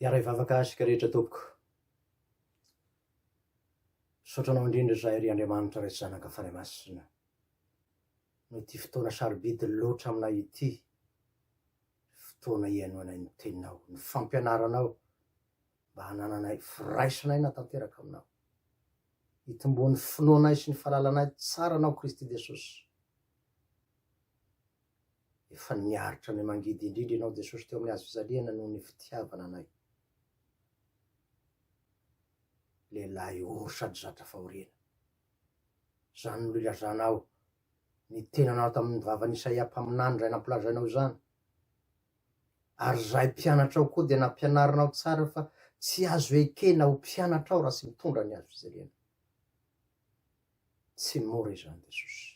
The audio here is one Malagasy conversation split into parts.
Hiara hivavaka isika rehetra tompoko. Misaotra anao indrindra izahay ry Andriamanitra Ray sy Zanaka Fanahy Masina noho ity fotoana sarobidy loatra aminay ity, fotoana ihainoanay ny teninao, ny fampianaranao, mba hanananay firaisana aina tanteraka aminao. Hitomboan'ny finoanay sy ny fahalalanay tsara anao Kristy Jesosy. Efa niaritra ny mangidy indrindra ianao Jesosy teo amin'ny hazofijaliana noho ny fitiavana anay. Lehilahy ory sady zatra fahoriana. Izany no ilazanao ny tenanao tamin'ny vavan'Isaia mpaminany izay nampilazainao izany. ary izahay mpianatra ao koa dia nampianarinao tsara fa tsy azo ekena ho mpianatra ao raha tsy mitondra ny azo jerena. Tsy mora izany Jesosy.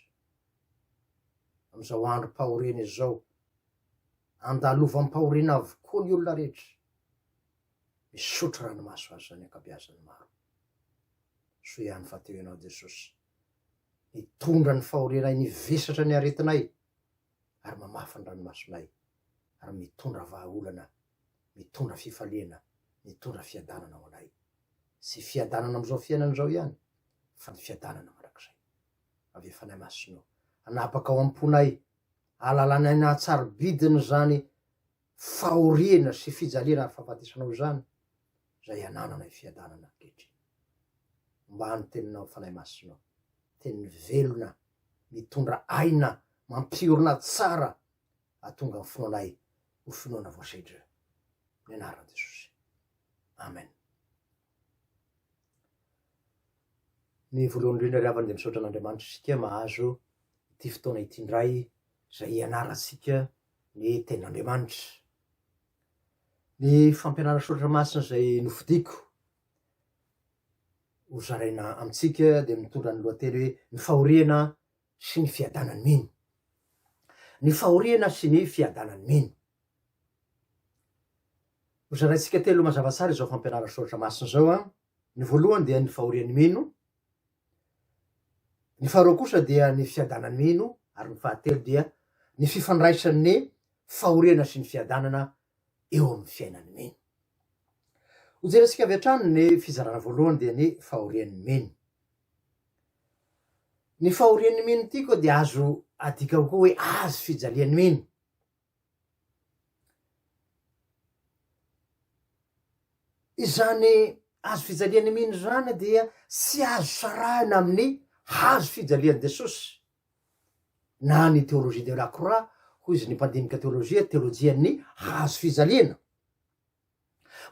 Amin'izao androm-pahoriana izao, andalovam-pahoriana avokoa ny olona rehetra. Misotro ranomaso aza ny ankabeazany maro. Soa ihany fa teo ianao Jesosy. Nitondra ny fahorianay, nivesatra ny aretinay. ary mamafy ny ranomasonay, ary mitondra vahaolana, mitondra fifaliana, mitondra fiadanana ho anay. Tsy fiadanana amin'izao fiainana izao ihany, fa ny fiadanana mandrakizay. Avia Fanahy Masina o, hanapaka ao am-ponay, hahalalanay ny haha-tsarobidiny izany fahoriana sy fijaliana ary fahafatesana ao izany izay anananay fiadanana ankehitriny. Ombaha ny Teninao, Fanahy Masina ô, Teny velona, mitondra aina, mampiorina tsara, hahatonga ny finoanay ho finoana voasedra. Ny anaran'i Jesosy. Amen. Ny voalohany indrindra ry havana dia misaotra an'Andriamanitra isika mahazo ity fotoana ity indray izay hianarantsika ny tenin'Andriamanitra. Ny fampianarana soratra masina izay nofidiko ho zaraina amintsika dia mitondra ny lohateny hoe ny fahoriana sy ny fiadanan'ny mino. Ny fahoriana sy ny fiadanan'ny mino. Ho zaraintsika telo mazava tsara izao fampianarana soratra masina izao an. Ny voalohany dia ny fahorian'ny mino, Ny faharoa kosa dia ny fiadana-mino ary ny fahatelo dia ny fifandraisan'ny fahoriana sy ny fiadanana eo amin'ny fiainan'ny mino. Hojerentsika avy hatrany ny fizarana voalohany dia ny fahorian'ny mino. Ny fahorian'ny mino ity koa dia azo adika ho koa hoe azy fijalian'ny mino. Izany hazo fijalian'ny mino izany dia tsy azo sarahina amin'ny hazo fijalian'i Jesosy na ny théologie de la croix hoy izy ny mpandinika teolojia, teolojian'ny hazo fijaliana.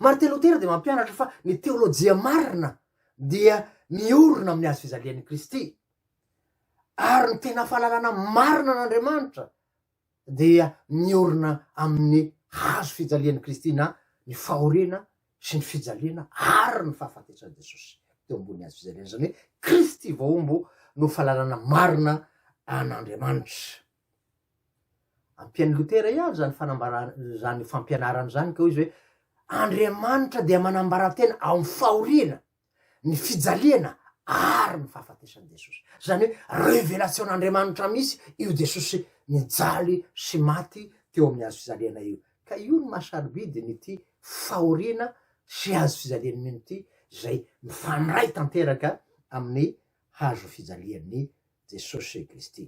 Martin Lotera dia mampianatra fa ny teolojia marina dia miorina amin'ny hazo fijalian'i Kristy ary ny tena fahalalana marina an'Andriamanitra dia miorina amin'ny hazo fijalian'i Kristy na ny fahoriana sy ny fijaliana ary ny fahafatesan'i Jesosy teo ambony hazo fijaliana, izany hoe Kristy voahombo no fahalalana marina an'Andriamanitra. Ampian'i Lotera ihany izany fanambarana izany fampianarana izany ka hoy izy hoe Andriamanitra dia manambara-tena amin'ny fahoriana ny fijaliana ary ny fahafatesan'i Jesosy. Izany hoe revelasion'Andriamanitra misy io Jesosy nijaly sy maty teo amin'ny hazo fijaliana io. Ka io no maha-sarobidy an'ity fahoriana sy hazo fijalian'i mino ity izay mifandray tanteraka amin'ny hazo fijalian'i Jesosy Kristy.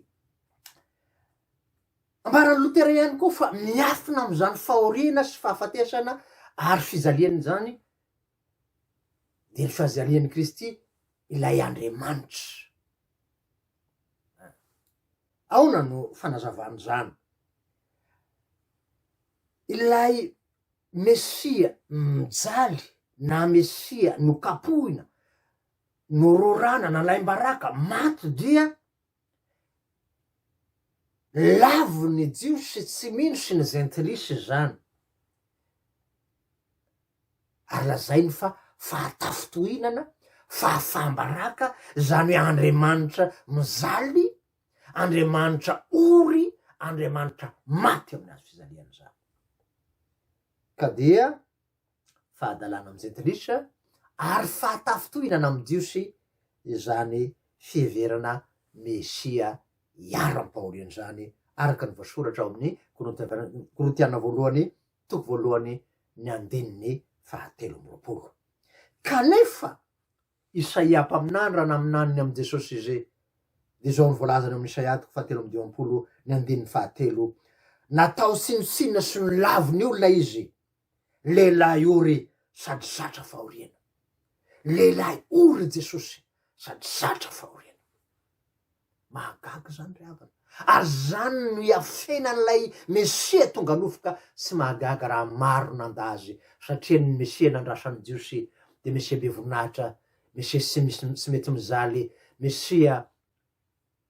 Ambaran'i Lotera ihany koa fa miafina amin'izany fahoriana sy fahafatesana ary fijaliana izany dia ny fahazalian'i Kristy ilay Andriamanitra. Aona no fanazavan'izany? Ilay Mesia mijaly na Mesia nokapohina, nororana, nalaim-baraka, maty dia Lavin' ny Jiosy tsy mino sy ny Jentilisa izany, ary lazainy fa fahatafintohinana, fahafaham-baraka, izany hoe andriamanitra mijaly, andriamanitra ory, andriamanitra maty amin' ny hazo fijaliana izany. Ka dia. fahadalana amin'ny jentilisa ary fahatafintohinana amin'ny Jiosy izany fiheverana Mesia hiaro ampahoriana izany, araka ny voasoratra ao amin'ny Korintiana voalohany toko voalohany ny andininy fahatelo amby roapolo. Kanefa Isaia mpaminany raha naminaniny amin'i Jesosy izy, dia izao no voalazany ao amin'ny Isaia toko fahatelo amby dimampolo ny andininy fahatelo, Natao tsinontsinona sy nolavon'ny olona izy, Lehilahy ory sady zatra fahoriana. Lehilahy ory Jesosy sady zatra fahoriana. Mahagaga izany ry havana. Ary izany no iafenan'ilay Mesia tonga nofo ka tsy mahagaga raha maro nanda Azy satria ny Mesia nandrasan'ny Jiosy dia Mesia be voninahitra, Mesia tsy misy tsy mety mijaly, Mesia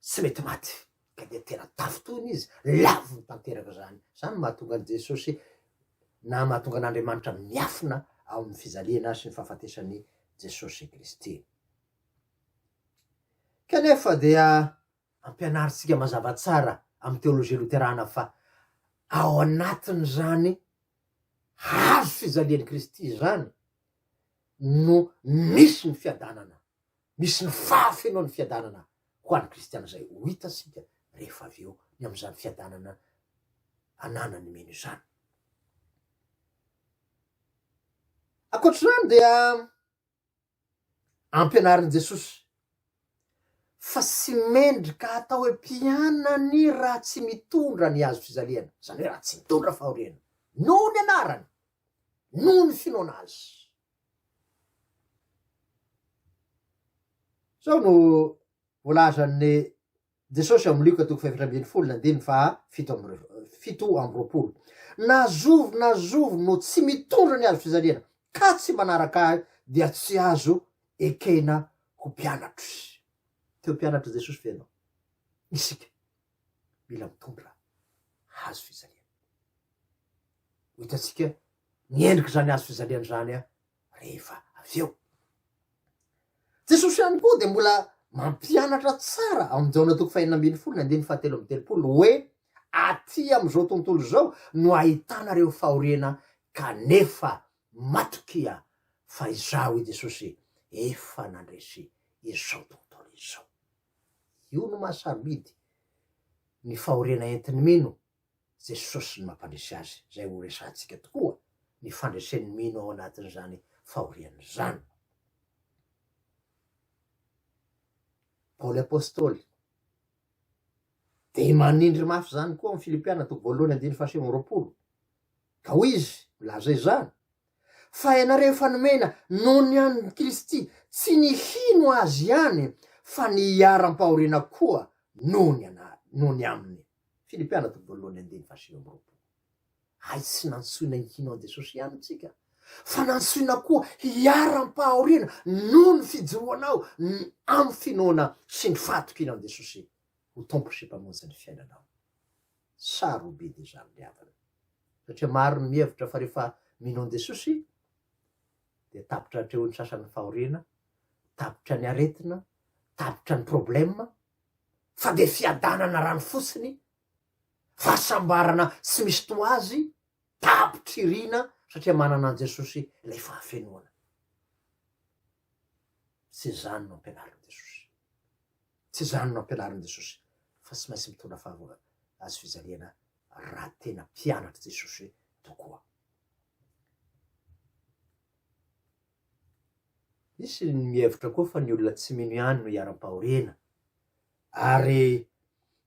tsy mety maty ka dia tena tafintohina izy, laviny tanteraka izany, izany no mahatonga an'i Jesosy na mahatonga an'Andriamanitra miafina ao amin'ny fijaliana sy ny fahafatesan'i Jesosy Kristy. Kanefa dia ampianarintsika mazava tsara amin'ny teolojia loterana fa ao anatin'izany hazo fijalian'i Kristy izany no misy ny fiadanana misy ny fahafenoan'ny fiadanana ho an'ny kristiana izay ho hita isika rehefa avy eo, ny amin'izany fiadanana ananan'ny mino izany. Ankoatra izany dia ampianarin'i Jesosy fa tsy mendrika hatao hoe mpianany raha tsy mitondra ny hazo fizaliana, izany hoe raha tsy mitondra fahoriana, noho ny anarany, noho ny finoana azy. Izao no voalazan'i Jesosy ao amin'ny Lioka toko fahefatra ambin'ny folo ny andininy faha fito amby fito amby roapolo, Na zovy na zovy no tsy mitondra ny hazofijaliana ka tsy manaraka Ahy dia tsy azo ekena ho mpianatro izy. Te ho mpianatr'i Jesosy ve ianao? Isika mila mitondra hazofijaliana. Ho hitantsika ny endrik'izany hazo fijaliana izany aho rehefa avy eo. Jesosy ihany koa dia mbola mampianatra tsara ao amin'ny Jaona toko fahenina ambin'ny folo ny andininy fahatelo amby telopolo hoe aty amin'izao tontolo izao no ahitana ireo fahoriana kanefa matokia fa izaho i Jesosy efa nandresy izao tontolo izao. Io no mahasarobidy ny fahoriana entin'ny mino Jesosy no mampandresy azy, izay ho resahantsika tokoa ny fandresen'ny mino ao anatin'izany fahoriana izany. Paoly Apostoly dia manindry mafy izany koa amin'ny Filipiana toko voalohany andininy fahasivy amby roapolo, ka hoy izy milaza izany, fa ianareo efa nomena noho ny an'i Kristy tsy ny hino azy ihany fa ny hiaram-pahoriana koa noho ny ana, noho ny aminy. Fily mpianatra voalohany andininy fahasivy amby roapolo. Hay tsy nantsoina hino an'i Jesosy ihany isika, fa nantsoina koa hiharam-pahoriana noho ny fijoroanao amin'ny finoana sy ny fahatokiana an'i Jesosy ho Tompo sy Mpamonjy ny fiainanao. Sa robidy izany ry havana? Satria maro ny mihevitra fa rehefa mino an'i Jesosy, dia tapitra hatrehon'ny sasany ny fahoriana, tapitra ny aretina, tapitra ny problema, fa dia fiadanana rano fotsiny, fahasambarana tsy misy toa azy, tapitry irina satria manana an'i Jesosy ilay fahafenoana. Tsy izany no ampianarin'i Jesosy. Tsy izany no ampianarin'i Jesosy fa tsy maintsy mitondra fahavoa azy fijaliana raha tena mpianatr'i Jesosy tokoa. Misy ny mihevitra koa fa ny olona tsy mino ihany no iharam-pahoriana, ary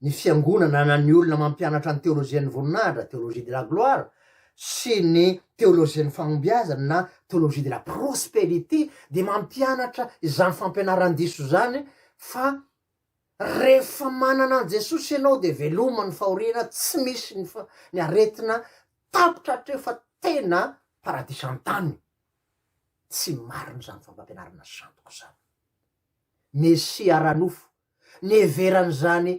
ny fiangonana na ny olona mampianatra ny teolojian'ny voninahitra, théologie de la gloire, sy ny teolojian'ny fahombiazana na théologie de la prospérité dia mampianatra izany fampianaran-diso izany fa rehefa manana an'i Jesosy ianao dia veloma ny fahoriana, tsy misy ny aretina, tapitra hatreo fa tena paradisa an-tany. Tsy marina izany fampampianarana sandoka izany. Mesia ara-nofo niheveran'izany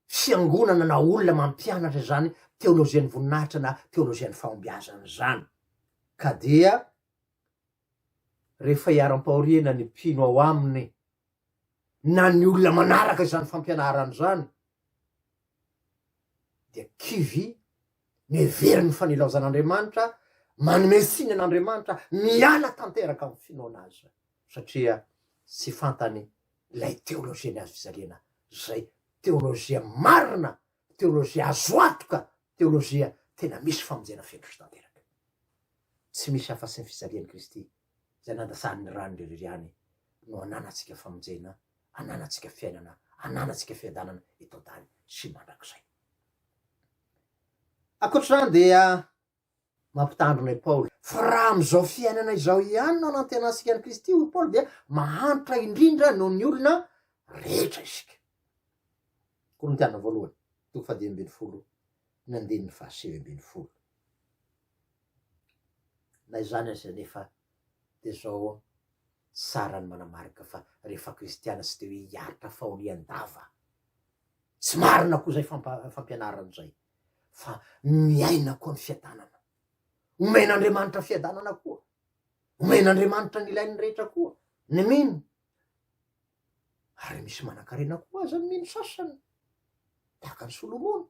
fiangonana na olona mampianatra izany teolojian'ny voninahitra na teolojian'ny fahombiazana izany. Ka dia rehefa iharam-pahoriana ny mpino ao aminy na ny olona manaraka izany fampianarana izany dia kivy Mihevero ny fanilaozan'Andriamanitra, manome siny an'Andriamanitra, miala tanteraka amin'ny finoana Azy, satria tsy fantany ilay teolojia ny hazofijaliana, izay teolojia marina, teolojia azo antoka, teolojia tena misy famonjena feno sy tanteraka. Tsy misy afa-tsy ny fijalian'i Kristy, izay nandasan'ny rany irery ihany, no ananantsika famonjena, ananantsika fiainana, ananantsika fiadanana eto an-tany sy mandrakizay. Ankoatra izany dia mampitandrina i Paoly fa raha amin'izao fiainana izao ihany no anantenantsika an'i Kristy hoy Paoly dia mahantra indrindra noho ny olona rehetra isika. Korintiana voalohany, toko fahadimy ambin'ny folo, ny andininy fahasivy ambin'ny folo. Na izany aza anefa dia izao tsara ny manamarika fa rehefa kristiana tsy dia hoe hiaritra fahorian-dava. Tsy marina koa izay fampianarana izay, fa miaina koa ny fiadanana. Omen'Andriamanitra fiadanana koa. Omen'Andriamanitra ny ilain'ny rehetra koa ny mino. Ary misy manan-karena koa aza ny mino sasany, tahaka an'i Solomona.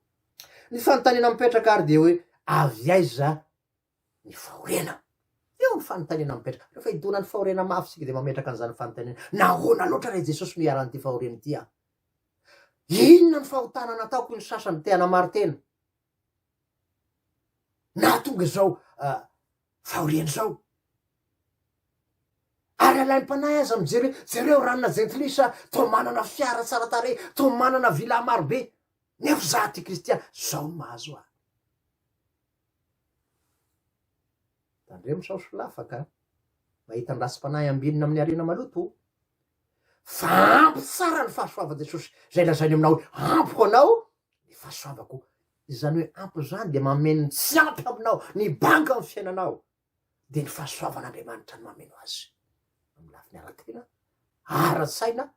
Ny fanontaniana mipetraka ary dia hoe, avy aiza ny fahoriana. Eo ny fanontaniana mipetraka, rehefa idonan'ny fahoriana mafy isika dia mametraka an'izany fanontaniana, nahoana loatra re Jesosy no iharan'ity fahoriana ity aho? Inona ny fahotana nataoko hoy ny sasany te hanamaro tena? Nahatonga izao uh, fahoriana izao. Ary alaim-panahy aza mijery, jereo ranona jentilisa, toa manana fiara tsara tarehy, toa manana villa marobe. Nefa izaho ty kristiana, izao no mahazo ahy. Tandremo sao solafaka a! Mahita ny rasim-panahy ambinina amin'ny harena maloto o! Fa ampy tsara ny fahasoavan'i Jesosy, izay lazainy aminao hoe, Ampiko anao ny fahasoavako. Izany hoe ampy izany dia mameno ny tsy ampy aminao, ny banga amin'ny fiainanao. Dia ny fahasoavan'Andriamanitra no mameno azy, amin'ny lafiny ara-tena, ara-tsaina,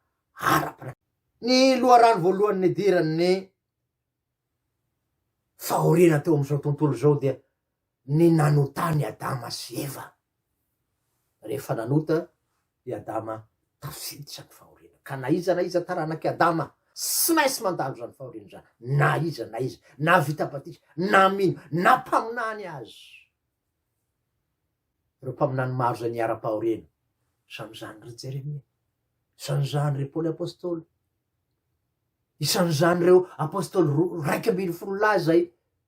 ara-panahy. Ny loharano voalohany nidiran'ny Fahoriana teo amin'izao tontolo izao dia ny nanotan'i Adama sy Eva. Rehefa nanota i Adama, tafiditra ny fahoriana. Ka na iza na iza taranak'i Adama, tsy maintsy mandalo izany fahoriana izany, na iza na iza, na vita batisa, na mino, na mpaminany aza. Ireo mpaminany maro izay niharam-pahoriana. Isan'izany ry Jeremia. Isan'izany ry Paoly Apostoly. Isan'izany ireo Apostoly roa, raika ambin'ny folo lahy izay,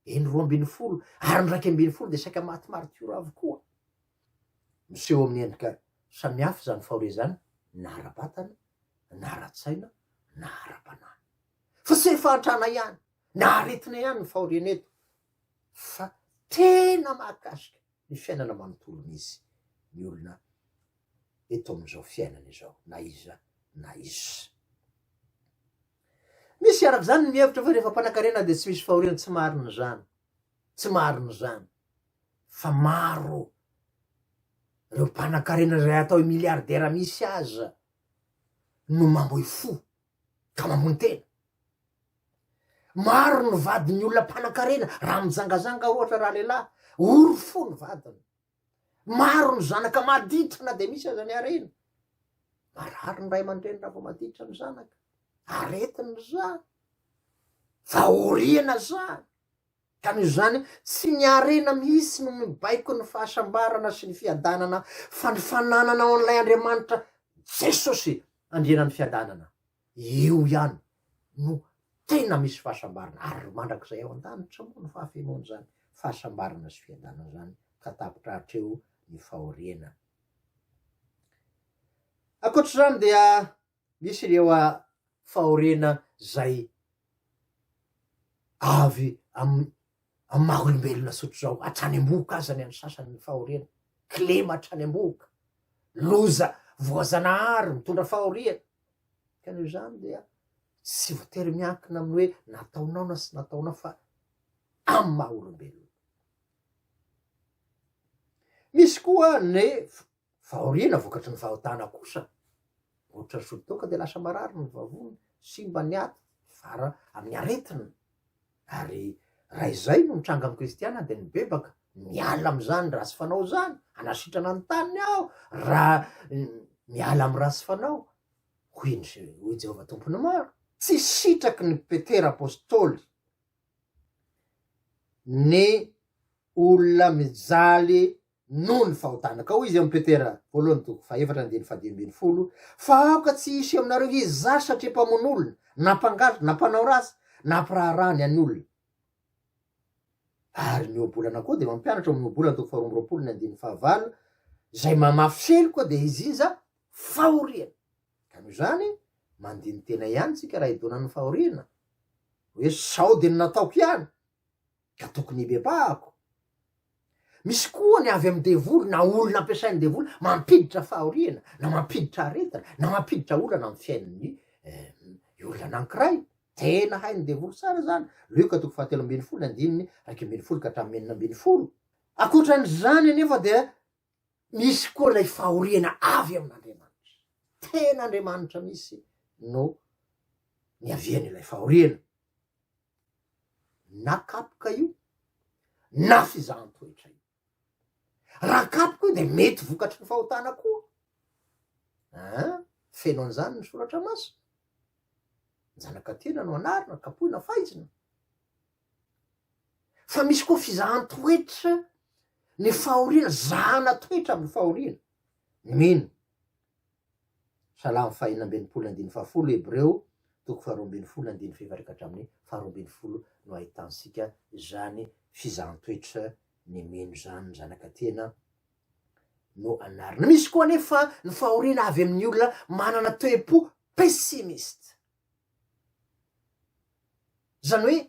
eny roa ambin'ny folo, ary ny raika ambin'ny folo dia saika maty maritiora avokoa. Miseho amin'ny endrika samihafa izany fahoria izany, na ara-batana, na ara-tsaina, na ara-panahy. Fa tsy hoe fahantrana ihany, na aretina ihany ny fahoriana eto, fa tena mahakasika ny fiainana manontolo mihitsy ny olona eto amin'izao fiainana izao na iza na iza. Misy araka izany ny mihevitra fa rehefa mpanankarena dia tsy misy fahoriana, tsy marina izany, tsy marina izany fa maro ireo mpanankarena izay atao hoe milliardaire mihitsy aza no mamoy fo ka mamono tena. Maro ny vadin'ny olona mpanankarena raha mijangazanga ohatra raha lehilahy, ory fo ny vadiny. Maro ny zanaka maditra na dia misy aza ny harena. Marary ny ray aman-dreny raha vao maditra ny zanaka, aretina izany, fahoriana izany. Ka noho izany, tsy ny harena mihitsy no mibaiko ny fahasambarana sy ny fiadanana fa ny fananana ao an'ilay Andriamanitra, Jesosy, Andrianan'ny fiadanana. Eo ihany no tena misy fahasambarana ary mandrakizay ao an-danitra moa no fahafenoan'izany fahasambarana sy fiadanana izany ka tapitra hatreo ny fahoriana. Ankoatra izany dia Misy ireo fahoriana izay avy amin'ny maha olombelona sotra izao, hatrany am-bohoka aza ny an'ny sasany ny fahoriana, kilema hatrany am-bohoka, loza voazanahary mitondra fahoriana, ka noho izany dia tsy voatery miankina amin'ny hoe nataonao na tsy nataonao fa amin'ny maha olombelona. Misy koa ny Fahoriana vokatry ny fahotana kosa, ohatra ny solitoaka dia lasa marary ny vavony, simba ny aty, mivara amin'ny aretina. Ary raha izay no mitranga amin'ny kristiana dia nibebaka, miala amin'izany ratsy fanao izany, hanasitrana ny taniny aho raha miala amin'ny ratsy fanao, hoy ny hoy Jehovah Tompon'ny maro. Tsy sitraky ny Petera apostoly ny olona mijaly noho ny fahotanakao izy amin'i Petera voalohany toko fahefatra andininy fahadimy ambin'ny folo, fa aoka tsy hisy aminareo izy zary satria mpamono olona, na mpangalatra, na mpanao ratsy, na mpiraharaha ny an'ny olona. Ary ny ohabolana koa dia mampianatra ao amin'ny ohabolana toko faharoa amby roapolo ny andininy fahavalo, izay mamafy selo koa dia izinja fahoriana. Ka noho izany, mandini-tena ihany isika raha hidona amin'ny fahoriana, hoe sao dia ny nataoko ihany, ka tokony hibebahako. Misy koa ny avy amin'ny devoly na olona ampiasain'ny devoly mampiditra fahoriana na mampiditra aretina na mampiditra olana amin'ny fiainan'ny eh, olona anankiray. Tena hain'ny devoly tsara zany. Lioka toko fahatelo ambin'ny folo andininy raika ambin'ny folo ka hatramin'ny enina ambin'ny folo. Akoatran'izany anefa dia Misy koa ilay fahoriana avy amin'Andriamanitra. Tena Andriamanitra mihitsy no niavian'ilay fahoriana. Na kapoka io, na fizahan-toetra io. Raha kapoka io dia mety vokatry ny fahotana koa. Ah, feno an'izany ny soratra masina. Ny zanaka tena no anarina, kapohina, faizina. Fa misy koa fizahan-toetra ny fahoriana, zahana toetra amin'ny fahoriana. Mino. Salamo fahenina ambin'ny folo andininy fahafolo, Hebreo toko faharoa ambin'ny folo andininy fahefatrika hatramin'ny faharoa ambin'ny folo no ahitantsika izany fizahan-toetra ny mino izany, ny zanaka tena no anarina. Misy koa anefa ny fahoriana avy amin'ny olona manana toe-po pessimiste. Izany hoe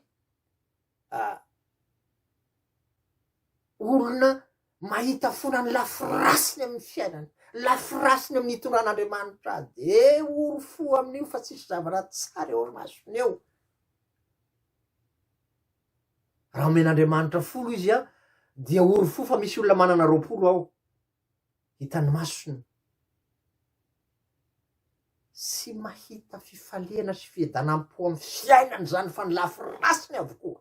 olona mahita fona ny lafy rasiny amin'ny fiainany, lafy rasiny amin'ny hitondran'Andriamanitra azy dia ory fo amin'io fa tsisy zavatra tsara eo masony eo. Raha omen'Andriamanitra folo izy dia ory fo fa misy olona manana roapolo ao. Hitan'ny masony sy mahita fifaliana sy fiedanam-po amin'ny fiainany izany fa ny lafy ratsiny avokoa.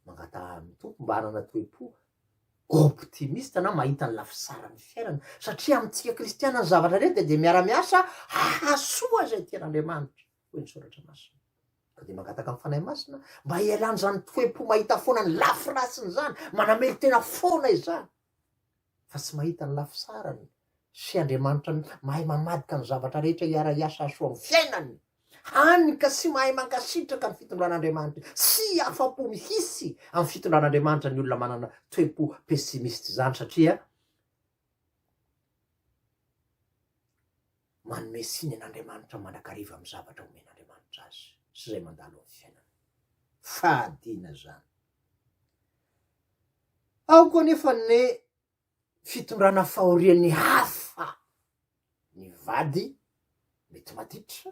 Mangataha amin'ny Tompo mba hanana toe-po optimiste na mahita ny lafy tsara ny fiainana satria amintsika kristiana ny zavatra rehetra dia miara-miasa hahasoa izay tian'Andriamanitra. hoy ny Soratra Masina. Ka dia mangataka ny Fanahy Masina mba hialana izany toe-po mahita foana ny lafy ratsiny izany, manamelo-tena foana izany, fa tsy mahita ny lafy tsarany, sy Andriamanitra mahay mamadika ny zavatra rehetra hiara-hiasa hahasoa amin'ny fiainany, hany ka tsy mahay mankasitraka ny fitondran'Andriamanitra, tsy afa-po mihitsy amin'ny fitondran'Andriamanitra ny olona manana toe-po pessimiste izany, satria Manome tsiny an'Andriamanitra mandrakariva amin'ny zavatra omen'Andriamanitra azy sy izay mandalo amin'ny fiainany. Fahadiana izany. Ao koa anefa ny fitondrana fahorian'ny hafa. Ny vady mety maditra,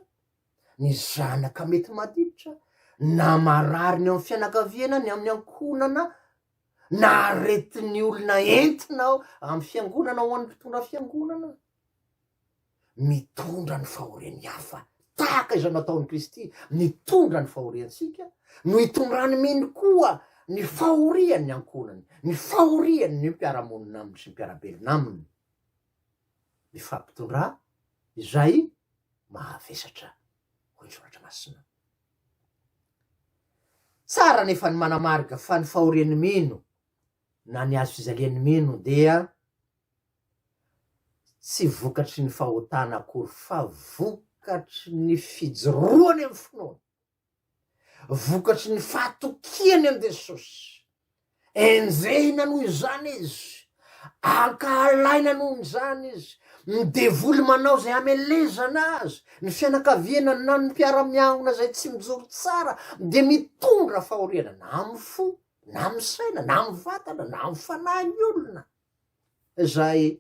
ny zanaka mety maditra, na marary ny ao amin'ny fianakaviana, ny amin'ny ankohonana, na aretin'ny olona entina ao amin'ny fiangonana ho an'ny mpitondra fiangonana. Mitondra ny fahorian'ny hafa tahaka izay nataon'i Kristy nitondra ny fahoriantsika no hitondrany mino koa ny fahorian'ny ankohonany, ny fahorian'ny mpiara-monina aminy sy mpiara-belona aminy. mifampitondrà izay mahavesatra, hoy ny Soratra Masina. Tsara anefa ny manamarika fa ny fahorian'ny mino na ny hazo fijalian'ny mino dia tsy vokatry ny fahotana akory fa vokatry ny fijoroany amin'ny finoany. Vokatry ny fahatokiany an'i Jesosy. Enjehina noho izany izy. Ankahalaina noho izany izy. Ny devoly manao izay hamelezana azy. Ny fianakaviana na ny mpiara-miangona izay tsy mijoro tsara dia mitondra fahoriana na amin'ny fo, na amin'ny saina, na amin'ny vatana, na amin'ny fanahin'ny olona izay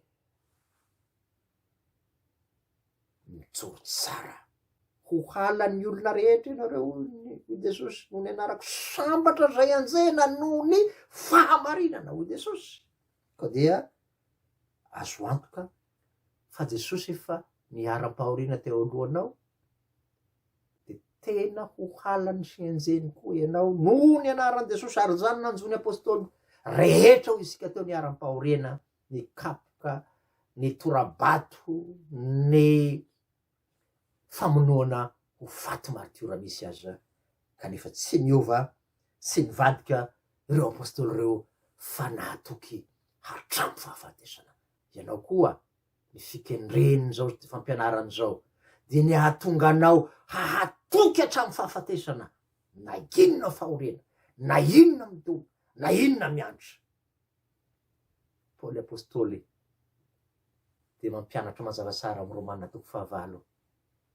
mijoro tsara. Ho halan'ny olona rehetra ianareo, hoy i Jesosy, noho ny anarako. Sambatra izay anjehina noho ny fahamarinana, hoy Jesosy. Koa dia azo antoka fa Jesosy efa niharam-pahoriana teo alohanao, dia tena ho halany sy enjehiny koa ianao noho ny anaran'i Jesosy, ary izany nanjo ny apôstôly rehetra hoy isika teo niharam-pahoriana. nikapoka ny tora-bato ny famonoana ho faty martiora misy aza kanefa tsy niova sy nivadika ireo Apostoly ireo fa nahatoky hatramin'ny fahafatesana. Ianao koa ny fikendren'izao fampianarana izao dia ny hahatonga anao hahatoky hatramin'ny fahafatesana na inona fahoriana, na inona midoboka, na inona miantra. Paoly Apostoly dia mampianatra mazavazara ao amin'ny Romana toko fahavalo,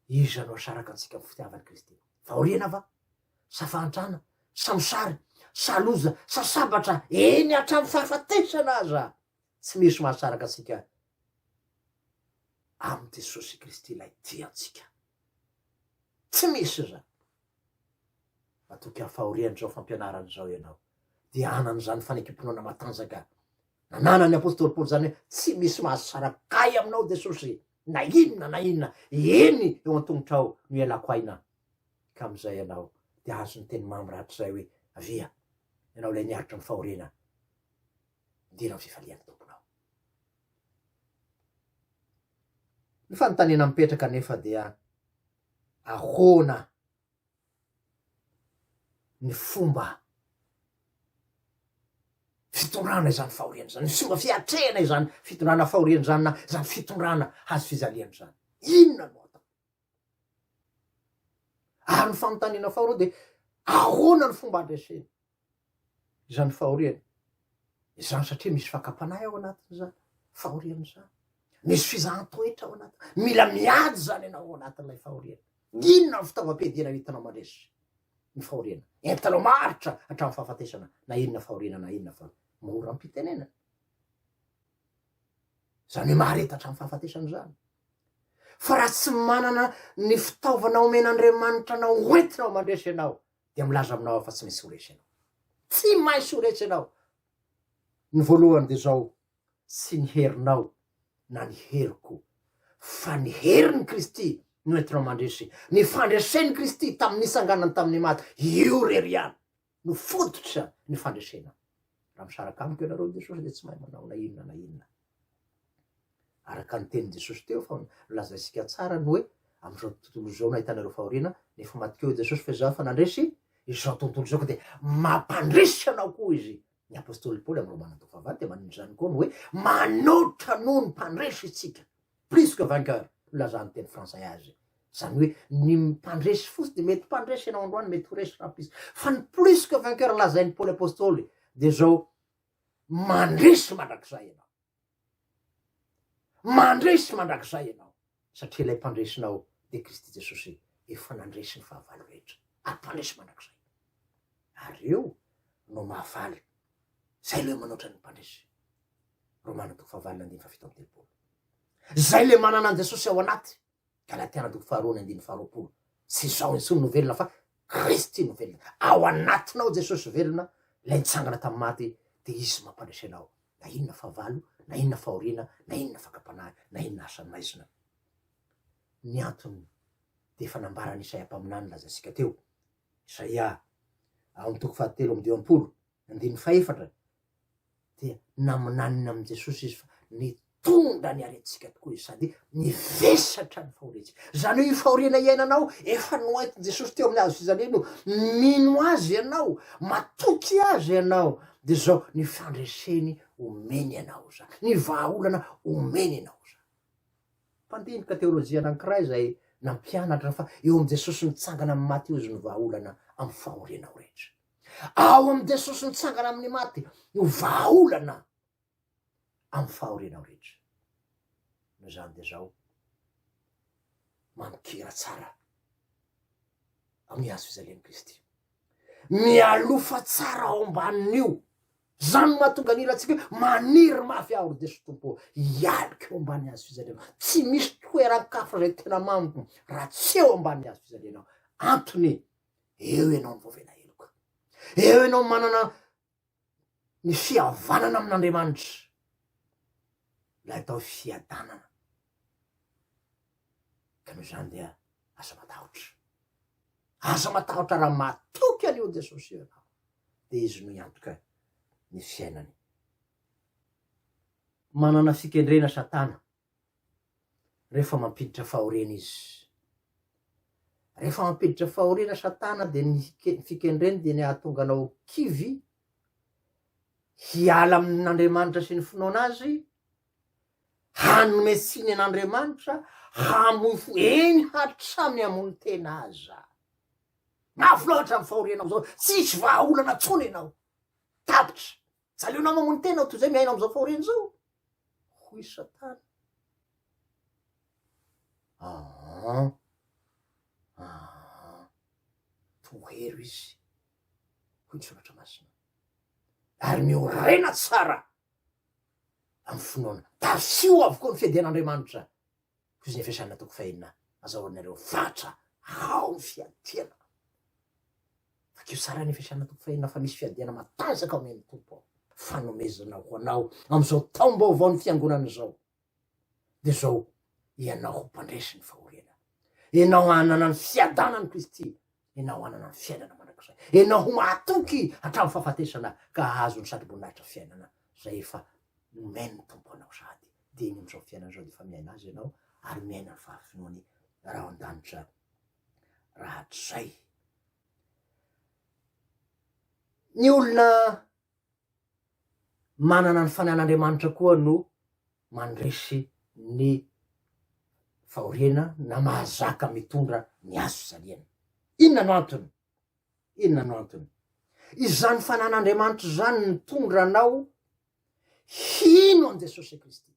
Iza no hasaraka antsika amin'ny fitiavan'i Kristy? Fahoriana va? Sa fahantrana? Sa mosary? Sa loza? Sa sabatra? Eny hatramin'ny fahafatesana aza, tsy misy mahasaraka antsika amin'i Jesosy Kristy ilay tia antsika. Tsy misy izany. Matoky ny fahorian'izao fampianarana izao ianao, dia hanan'izany fanekem-pinoana matanjaka nananan'ny apostoly Paoly izany hoe tsy misy mahazo tsara kay aminao Jesosy na inona na inona, eny eo an-tongotrao no ialako aina, ka amin'izay ianao dia hahazo ny teny mamy rahatrizay hoe avia, ianao ilay niaritra ny fahoriana, midera ny fifalian'ny Tomponao. Ny fanontaniana mipetraka anefa dia ahoana ny fomba fitondrana izany fahoriana izany, ny fomba fiatrehana izany fitondrana fahoriana izany na izany fitondrana hazo fijaliana izany. Inona no atao? Ary ny fanontaniana faharoa dia ahoana ny fomba andresena? izany fahoriana izany satria misy fakam-panahy ao anatin'izany fahoriana izany, misy fizahan-toetra ao anatiny, mila miady izany ianao ao anatin'ilay fahoriana. Inona ny fitaovam-piadiana entinao mandresy ny fahoriana? Entinao maharitra hatramin'ny fahafatesana na inona fahoriana na inona fa mora am-pitenenana. Izany hoe mahareta hatramin'ny fahafatesana izany. Fa raha tsy manana ny fitaovana omen'Andriamanitra anao hoentinao mandresy ianao dia milaza aminao aho fa tsy maintsy ho resy ianao. Tsy maintsy ho resy ianao. Ny voalohany dia izao, tsy ny herinao na ny heriko fa ny herin'i Kristy no entinao mandresy. Ny fandresen'i Kristy tamin'ny nitsanganany tamin'ny maty, io irery ihany no fototra ny fandresena. Raha misaraka amiko ianareo amin'i Jesosy dia tsy mahay manao na inona na inona. Araka ny tenin'i Jesosy teo fa nolazaintsika tsara ny hoe amin'izao tontolo izao no ahitana ireo fahoriana, nefa maty teo i Jesosy fa izaho efa nandresy izao tontolo izao ka dia mampandresy anao koa izy. Ny apostoly Paoly amin'ny Romana toko fahavalo dia manondro izany koa ny hoe manoatra noho ny mpandresy isika. Plus que vainqueur no ilazan'ny teny frantsay azy. Izany hoe ny mpandresy fotsy dia mety mpandresy ianao androany, mety ho resy rahampitso. Fa ny plus que vainqueur lazain'i Paoly apostoly dia izao Mandresy mandrakizay ianao. Mandresy mandrakizay ianao, satria ilay Mpandresinao dia Kristy Jesosy efa nandresy ny fahavalo rehetra, ary Mpandresy mandrakizay. Ary io no mahavaly izay ilay manoatra ny Mpandresy. Romana toko fahavalon'ny andininy fahafito amby telopolo. Izay ilay manana an'i Jesosy ao anaty, Galatia andoko faharoa ny andininy faharoapolo Tsy izao intsony no velona fa Kristy no velona, ao anatinao Jesosy velona, ilay nitsangana tamin'ny maty, dia Izy mampandresy anao na inona fahavalo, na inona fahoriana, na inona fakam-panahy, na inona asa maizina. Ny antony dia efa nambaran'i Isaia mpaminany nolazaintsika teo, Isaia, ao amin'ny toko fahatelo amby dimampolo, Andininy fahefatra, Dia naminanina amin'i Jesosy izy fa nitondra ny aretintsika tokoa izy sady nivesatra ny fahoriantsika. Izany hoe io fahoriana iainanao efa noentin'i Jesosy teo amin'ny hazo fijaliana io, mino Azy ianao, matoky Azy ianao, dia izao ny fandreseny omeny anao izany, ny vahaolana omeny anao izany. Mpandinika teolojia anankiray izay nampianatra fa eo amin'i Jesosy mitsangana amin'ny maty eo izy ny vahaolana amin'ny fahorianao rehetra. ao amin'i Jesosy nitsangana amin'ny maty no vahaolana amin'ny fahorianao rehetra. Noho izany dia izao, manon-kira tsara amin'ny hazo fijalian'i Kristy. Mialofa tsara ao ambanin'io. Izany mahatonga ny hirantsika hoe maniry mafy aho ry Jesosy Tompo, hialoka eo ambany hazo fijalianao. Tsy misy toeran-kafa izay tena mamiko raha tsy eo ambany hazo fijalianao. Antony eo ianao no voavela heloka. Eo ianao no manana ny fihavanana amin'Andriamanitra, ilay atao hoe fiadanana. Ka noho izany dia aza matahotra. Aza matahotra raha matoky an'io Jesosy io ianao, dia izy no hiantoka ny fiainany. Manana fikendrena Satana rehefa mampiditra fahoriana izy. Rehefa mampiditra fahoriana Satana dia ny fikendreny dia ny hahatonga anao kivy hiala amin'Andriamanitra sy ny finoana azy, hanome tsiny an'Andriamanitra, hamoy fo, eny hatrany hamono tena aza. Mafy loatra ny fahorianao zao, tsisy vahaolana tsony ianao, tapitra. Tsy aleonao mamono tena ao toy izay miaina amin'izao fahoriana izao? hoy Satana. Aa, aa, tohero izy, hoy ny Soratra Masina, ary miorena tsara amin'ny finoana. Tafio avokoa ny fiadian'Andriamanitra. Fiziny fiasana toko fahenina azahoanareo fatra ao ny fiadiana. Vakio tsara ny fiasana toko fahenina fa misy fiadiana matanjaka ao amin'ny tompo ao. Fanomezana ho anao amin'izao taom-baovao ny fiangonana izao. Dia izao, ianao ho mpandresy ny fahoriana. Ianao hanana ny fiadanan'i Kristy ianao hanana ny fiainana mandrakizay, ianao ho mahatoky hatramin'ny fahafatesana ka hahazo ny satroboninahitra fiainana izay efa nomen'ny Tompo anao sady dia eny amin'izao fiainana izao dia efa miaina Azy ianao ary miaina ny fahafenoany raha ao an-danitra rahatrizay. Ny olona manana ny fanahin'Andriamanitra koa no mandresy ny fahoriana na mahazaka mitondra ny hazo fijaliana. Inona no antony? Inona no antony? Izany fanahin'Andriamanitra izany nitondra anao hino an'i Jesosy Kristy.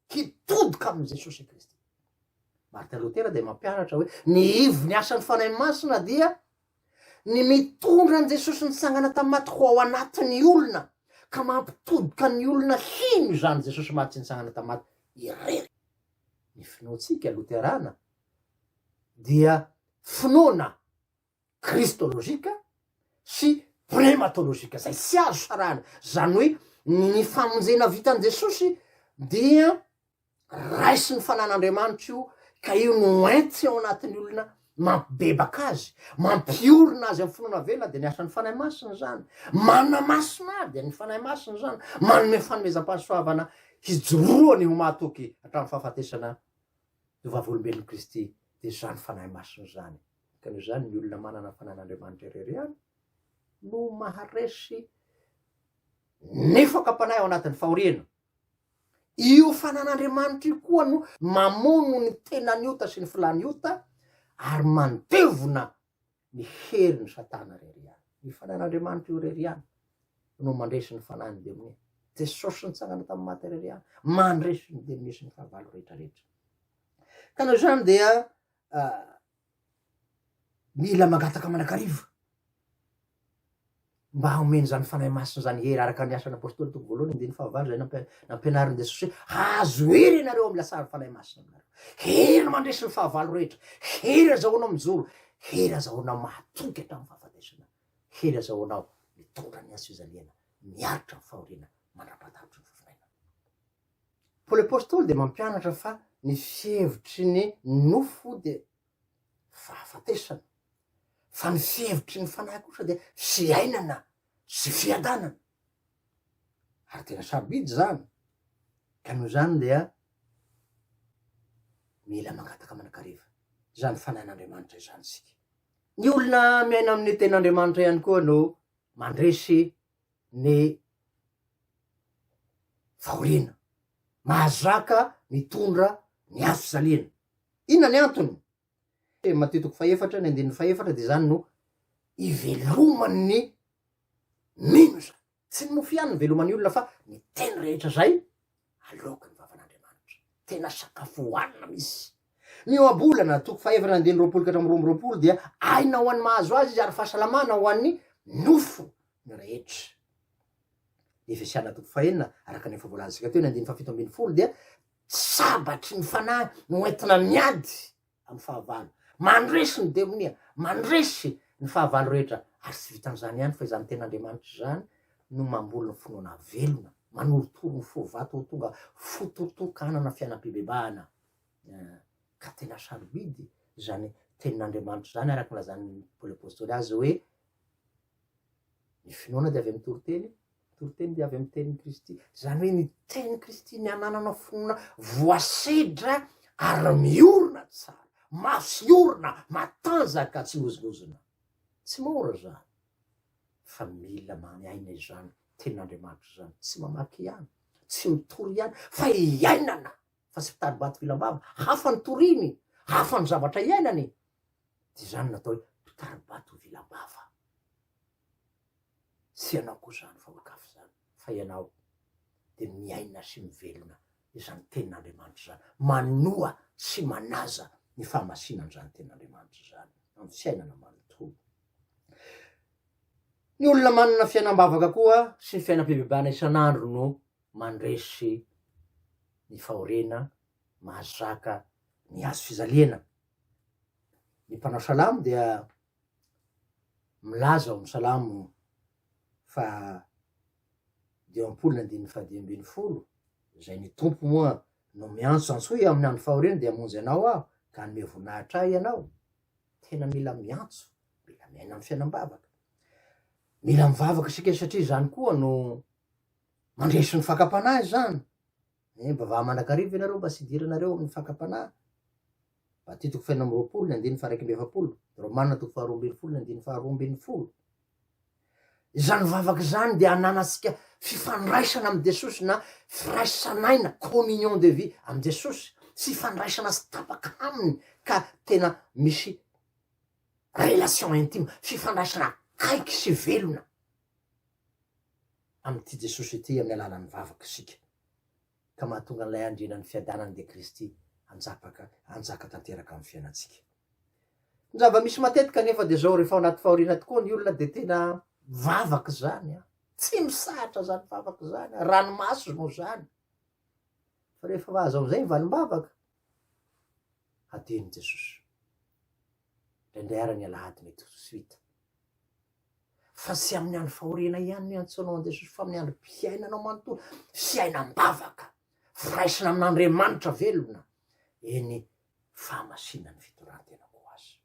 hitodoka amin'i Jesosy Kristy. Martin Lotera dia mampianatra hoe ny ivon'ny asan'ny Fanahy Masina dia ny mitondra an'i Jesosy nitsangana tamin'ny maty ho ao anatin'ny olona ka mampitodoka ny olona hino izany Jesosy maty sy nitsangana tamin'ny maty irery. Ny finoantsika Loterana dia finoana kristolojika sy prematolojika izay tsy azo sarahana, izany hoe ny famonjena vitan'i Jesosy dia raisin'ny fanan'Andriamanitra io ka io no enty ao anatin'ny olona mampibebaka azy, mampiorina azy amin'ny finoana velona dia ny asan'ny Fanahy Masina izany, manana masina azy dia ny Fanahy Masina izany, manome fanomezam-pahasoavana hijoroany ho mahatoky hatramin'ny fahafatesana ny vavolombelon'i Kristy dia izany Fanahy Masina izany. Ka noho izany ny olona manana fanan'Andriamanitra irery ihany no maharesy ny fakam-panahy ao anatin'ny fahoriana. Io fanan'Andriamanitra io koa no mamono ny tenan'ny ota sy ny filàn'ny ota ary mandevona ny herin'i Satana irery ihany. Ny fanan'Andriamanitra io irery ihany no mandresy ny fanahin'ny demonia. Jesosy nitsangana tamin'ny maty irery ihany mandresy ny demonia sy ny fahavalo rehetra rehetra. Ka noho izany dia mila mangataka manakariva mba haomeny zany fanahy masina zany hery araka ny asan'ny apostoly toko voalohany andiny fahavalo zay nampianarin'i jesosy hoe azo hery ianareo amin'ny lasary fanahy masina aminareo hery mandresy ny fahavalo rehetra hery azahoanao mijoro hery azahoanao mahatoky hatramin'ny fahafatesana hery azahoanao mitondra ny azo fizaliana miaritra ny fahoriana mandra-pahatavitry ny fifinaina Paoly Apostoly dia mampianatra fa ny fihevitry ny nofo dia fahafatesana, fa ny fihevitry ny Fanahy kosa dia fiainana sy fiadanana. Ary tena sarobidy izany, ka noho izany dia mila mangataka manakariva izany Fanahin'Andriamanitra izany isika. Ny olona miaina amin'ny Tenin'Andriamanitra ihany koa no mandresy ny fahoriana. Mahazaka mitondra ny hazo fisaliana. Inona ny antony? Teny Matio toko fahefatra ny andininy fahefatra dia izany no iveloman'ny mino izany. Tsy ny mofo ihany no iveloman'ny olona fa ny teny rehetra izay Aloako ny vavan'Andriamanitra. Tena sakafo hohanina misy. Ny eo am-bolana, toko fahefatra andininy roapolo ka hatramin'ny roa amby roapolo, dia aina ho an'ny mahazo azy izy ary fahasalamana ho an'ny nofo ny rehetra. Ny Efesiana toko fahenina, araka ny efa voalazantsika teo, ny andininy fahafito ambin'ny folo dia sabatry ny fanahy no entina miady amin'ny fahavalo. Mandresy ny demonia, mandresy ny fahavalo rehetra, ary tsy vitan'izany ihany fa izany tena Andriamanitra izany no mamboly ny finoana velona, manorotoro ny fo vato ho tonga fo totokanana fianam-pibebahana. Eh, ka tena sarobidy izany tenin'Andriamanitra izany, araka ny lazan'ny Paoly Apostoly azy hoe, Ny finoana dia avy amin'ny toriteny, ny toriteny dia avy amin'ny tenin'i Kristy. Izany hoe ny tenin'i Kristy ny anananao finoana voasedra ary miorina tsara, masiorina, matanjaka, tsy mihozongozona. Tsy mora izany, fa mila miaina izany tenin'Andriamanitra izany, tsy mamaky ihany, tsy mitory ihany, fa iainana fa tsy mpitari bato vilambava, hafa ny toriny, hafa ny zavatra iainany, de zany no atao hoe mpitari bato vilambava, tsy ianao koa zany fa olokafy zany, fa ianao de miaina sy mivelona izany tenin'Andriamanitra izany, manoa sy manaza ny fahamasinan'izany tenin'Andriamanitra izany amin'ny fiainana manontolo. Ny olona manana fiainam-bavaka koa sy ny fiainam-pibebahana isan'andro no mandresy ny fahoriana mahazaka ny hazo fijaliana. Ny mpanao salamo dia milaza ao amin'ny salamo faha dimampolo ny andininy faha dimy ambin'ny folo, izay ny tompo moa no miantso antsoy amin'ny andro fahoriana dia hamonjy anao aho ka hanome voninahitra ahy ianao. Tena mila miantso, mila miaina amin'ny fiainam-bavaka. Mila mivavaka isika satria izany koa no Mandresy ny fakam-panahy izany. Eh, mba vaha mandrakariva ianareo mba tsy hidiranareo amin'ny fakam-panahy. Matitiko faina amby roapolo ny andiny faraika amby efapolo, Romana toko faharoa ambin'ny folo ny andiny faharoa ambin'ny folo. Izany vavaka izany dia ananantsika fifandraisana amin'i Jesosy na firaisan'aina, communion de vie, amin'i Jesosy. Fifandraisana tsy tapaka aminy ka tena misy relation intime, fifandraisana akaiky sy velona amin'ity Jesosy ity amin'ny alalan'ny vavaka isika, ka mahatonga an'ilay andrianan'ny fiadanana dia Kristy hanjapaka hanjaka tanteraka amin'ny fiainantsika. Ny zava-misy matetika anefa dia izao, rehefa ao anaty fahoriana tokoa ny olona dia tena vavaka izany a, tsy misahatra izany vavaka izany a, ranomaso no izany, fa rehefa azo amin'izay ny valim-bavaka, hadino Jesosy, indraindray ary ny alahady mety ho suite. Fa tsy amin'ny andro fahoriana ihany no iantsoanao an'i Jesosy fa amin'ny androm-piainanao manontolo, fiainam-bavaka, firaisana amin'Andriamanitra velona, eny, fahamasinan'ny fitondrantena koa aza.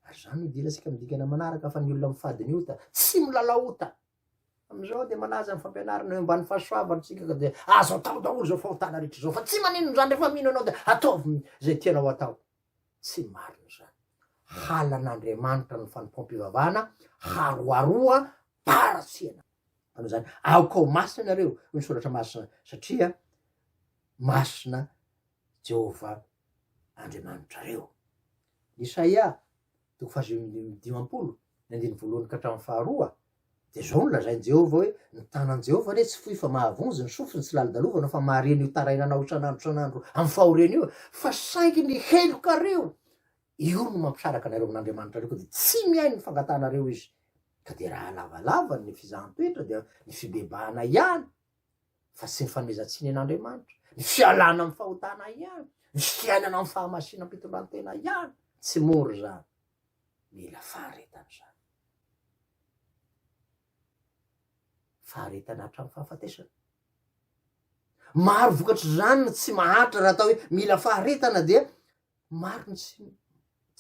Ary izany no idirantsika amin'ny dingana manaraka fa ny olona mifady ny ota tsy milalao ota. Amin'izao dia manaja ny fampianarana eo ambany fahasoavana isika ka dia azo atao daholo izao fahotana rehetra izao fa tsy maninona izany rehefa mino ianao dia ataovy izay tianao atao. Tsy marina izany. Halan'Andriamanitra ny fanompoam-pivavahana haroharoa tara tsy ela. Noho izany, aoka ho masina ianareo, hoy ny Soratra Masina, satria masina Jehovah Andriamanitrareo. Ny Isaia, toko fahadimy amby dimampolo, ny andininy voalohany ka hatramin'ny faharoa, Dia izao no lazain'i Jehovah hoe, Ny tanan'i Jehovah re tsy fohy fa mahavonjy, ny sofiny tsy lalodalovana fa mahareny io tarainanao isan'andro isan'andro amin'ny fahoriany io, fa saingy ny helokareo, io no mampisaraka anareo amin'Andriamanitrareo, ka dia tsy mihaino ny fangatahanareo izy. Ka dia raha lavalava ny fizahan-toetra, dia ny fibebahana ihany, fa tsy ny fanomezan-tsiny an'Andriamanitra, ny fialana amin'ny fahotana ihany, ny fiainana amin'ny fahamasinam-pitondran-tena ihany, tsy mora izany. mila faharetana izany. Faharetana hatramin'ny fahafatesana. Maro vokatr'izany ny tsy maharitra raha atao hoe mila faharetana dia maro ny tsy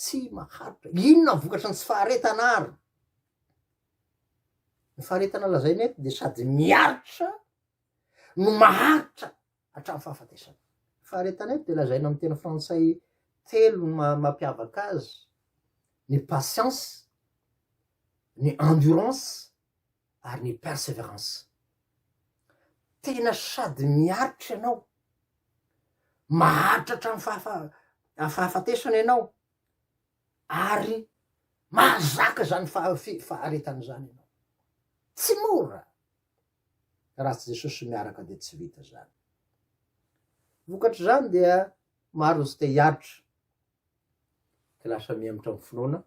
tsy maharitra. Inona ny vokatry ny tsy faharetana ary? Ny faharetana lazaina eto dia sady miaritra no maharitra hatramin'ny fahafatesany. Ny faharetan'aiko dia lazaina amin'ny teny frantsay telo ny maha mampiavaka azy, ny patience, ny endurance ary ny perseverance. Tena sady miaritra ianao, maharitra hatramin'ny fahafa- fahafatesana ianao ary mahazaka izany faha- fi- faharetana izany ianao. Tsy mora. Raha tsy Jesosy miaraka dia tsy vita izany. Vokatr'izany dia maro ny tsy te hiaritra ka lasa mihemotra amin'ny finoana,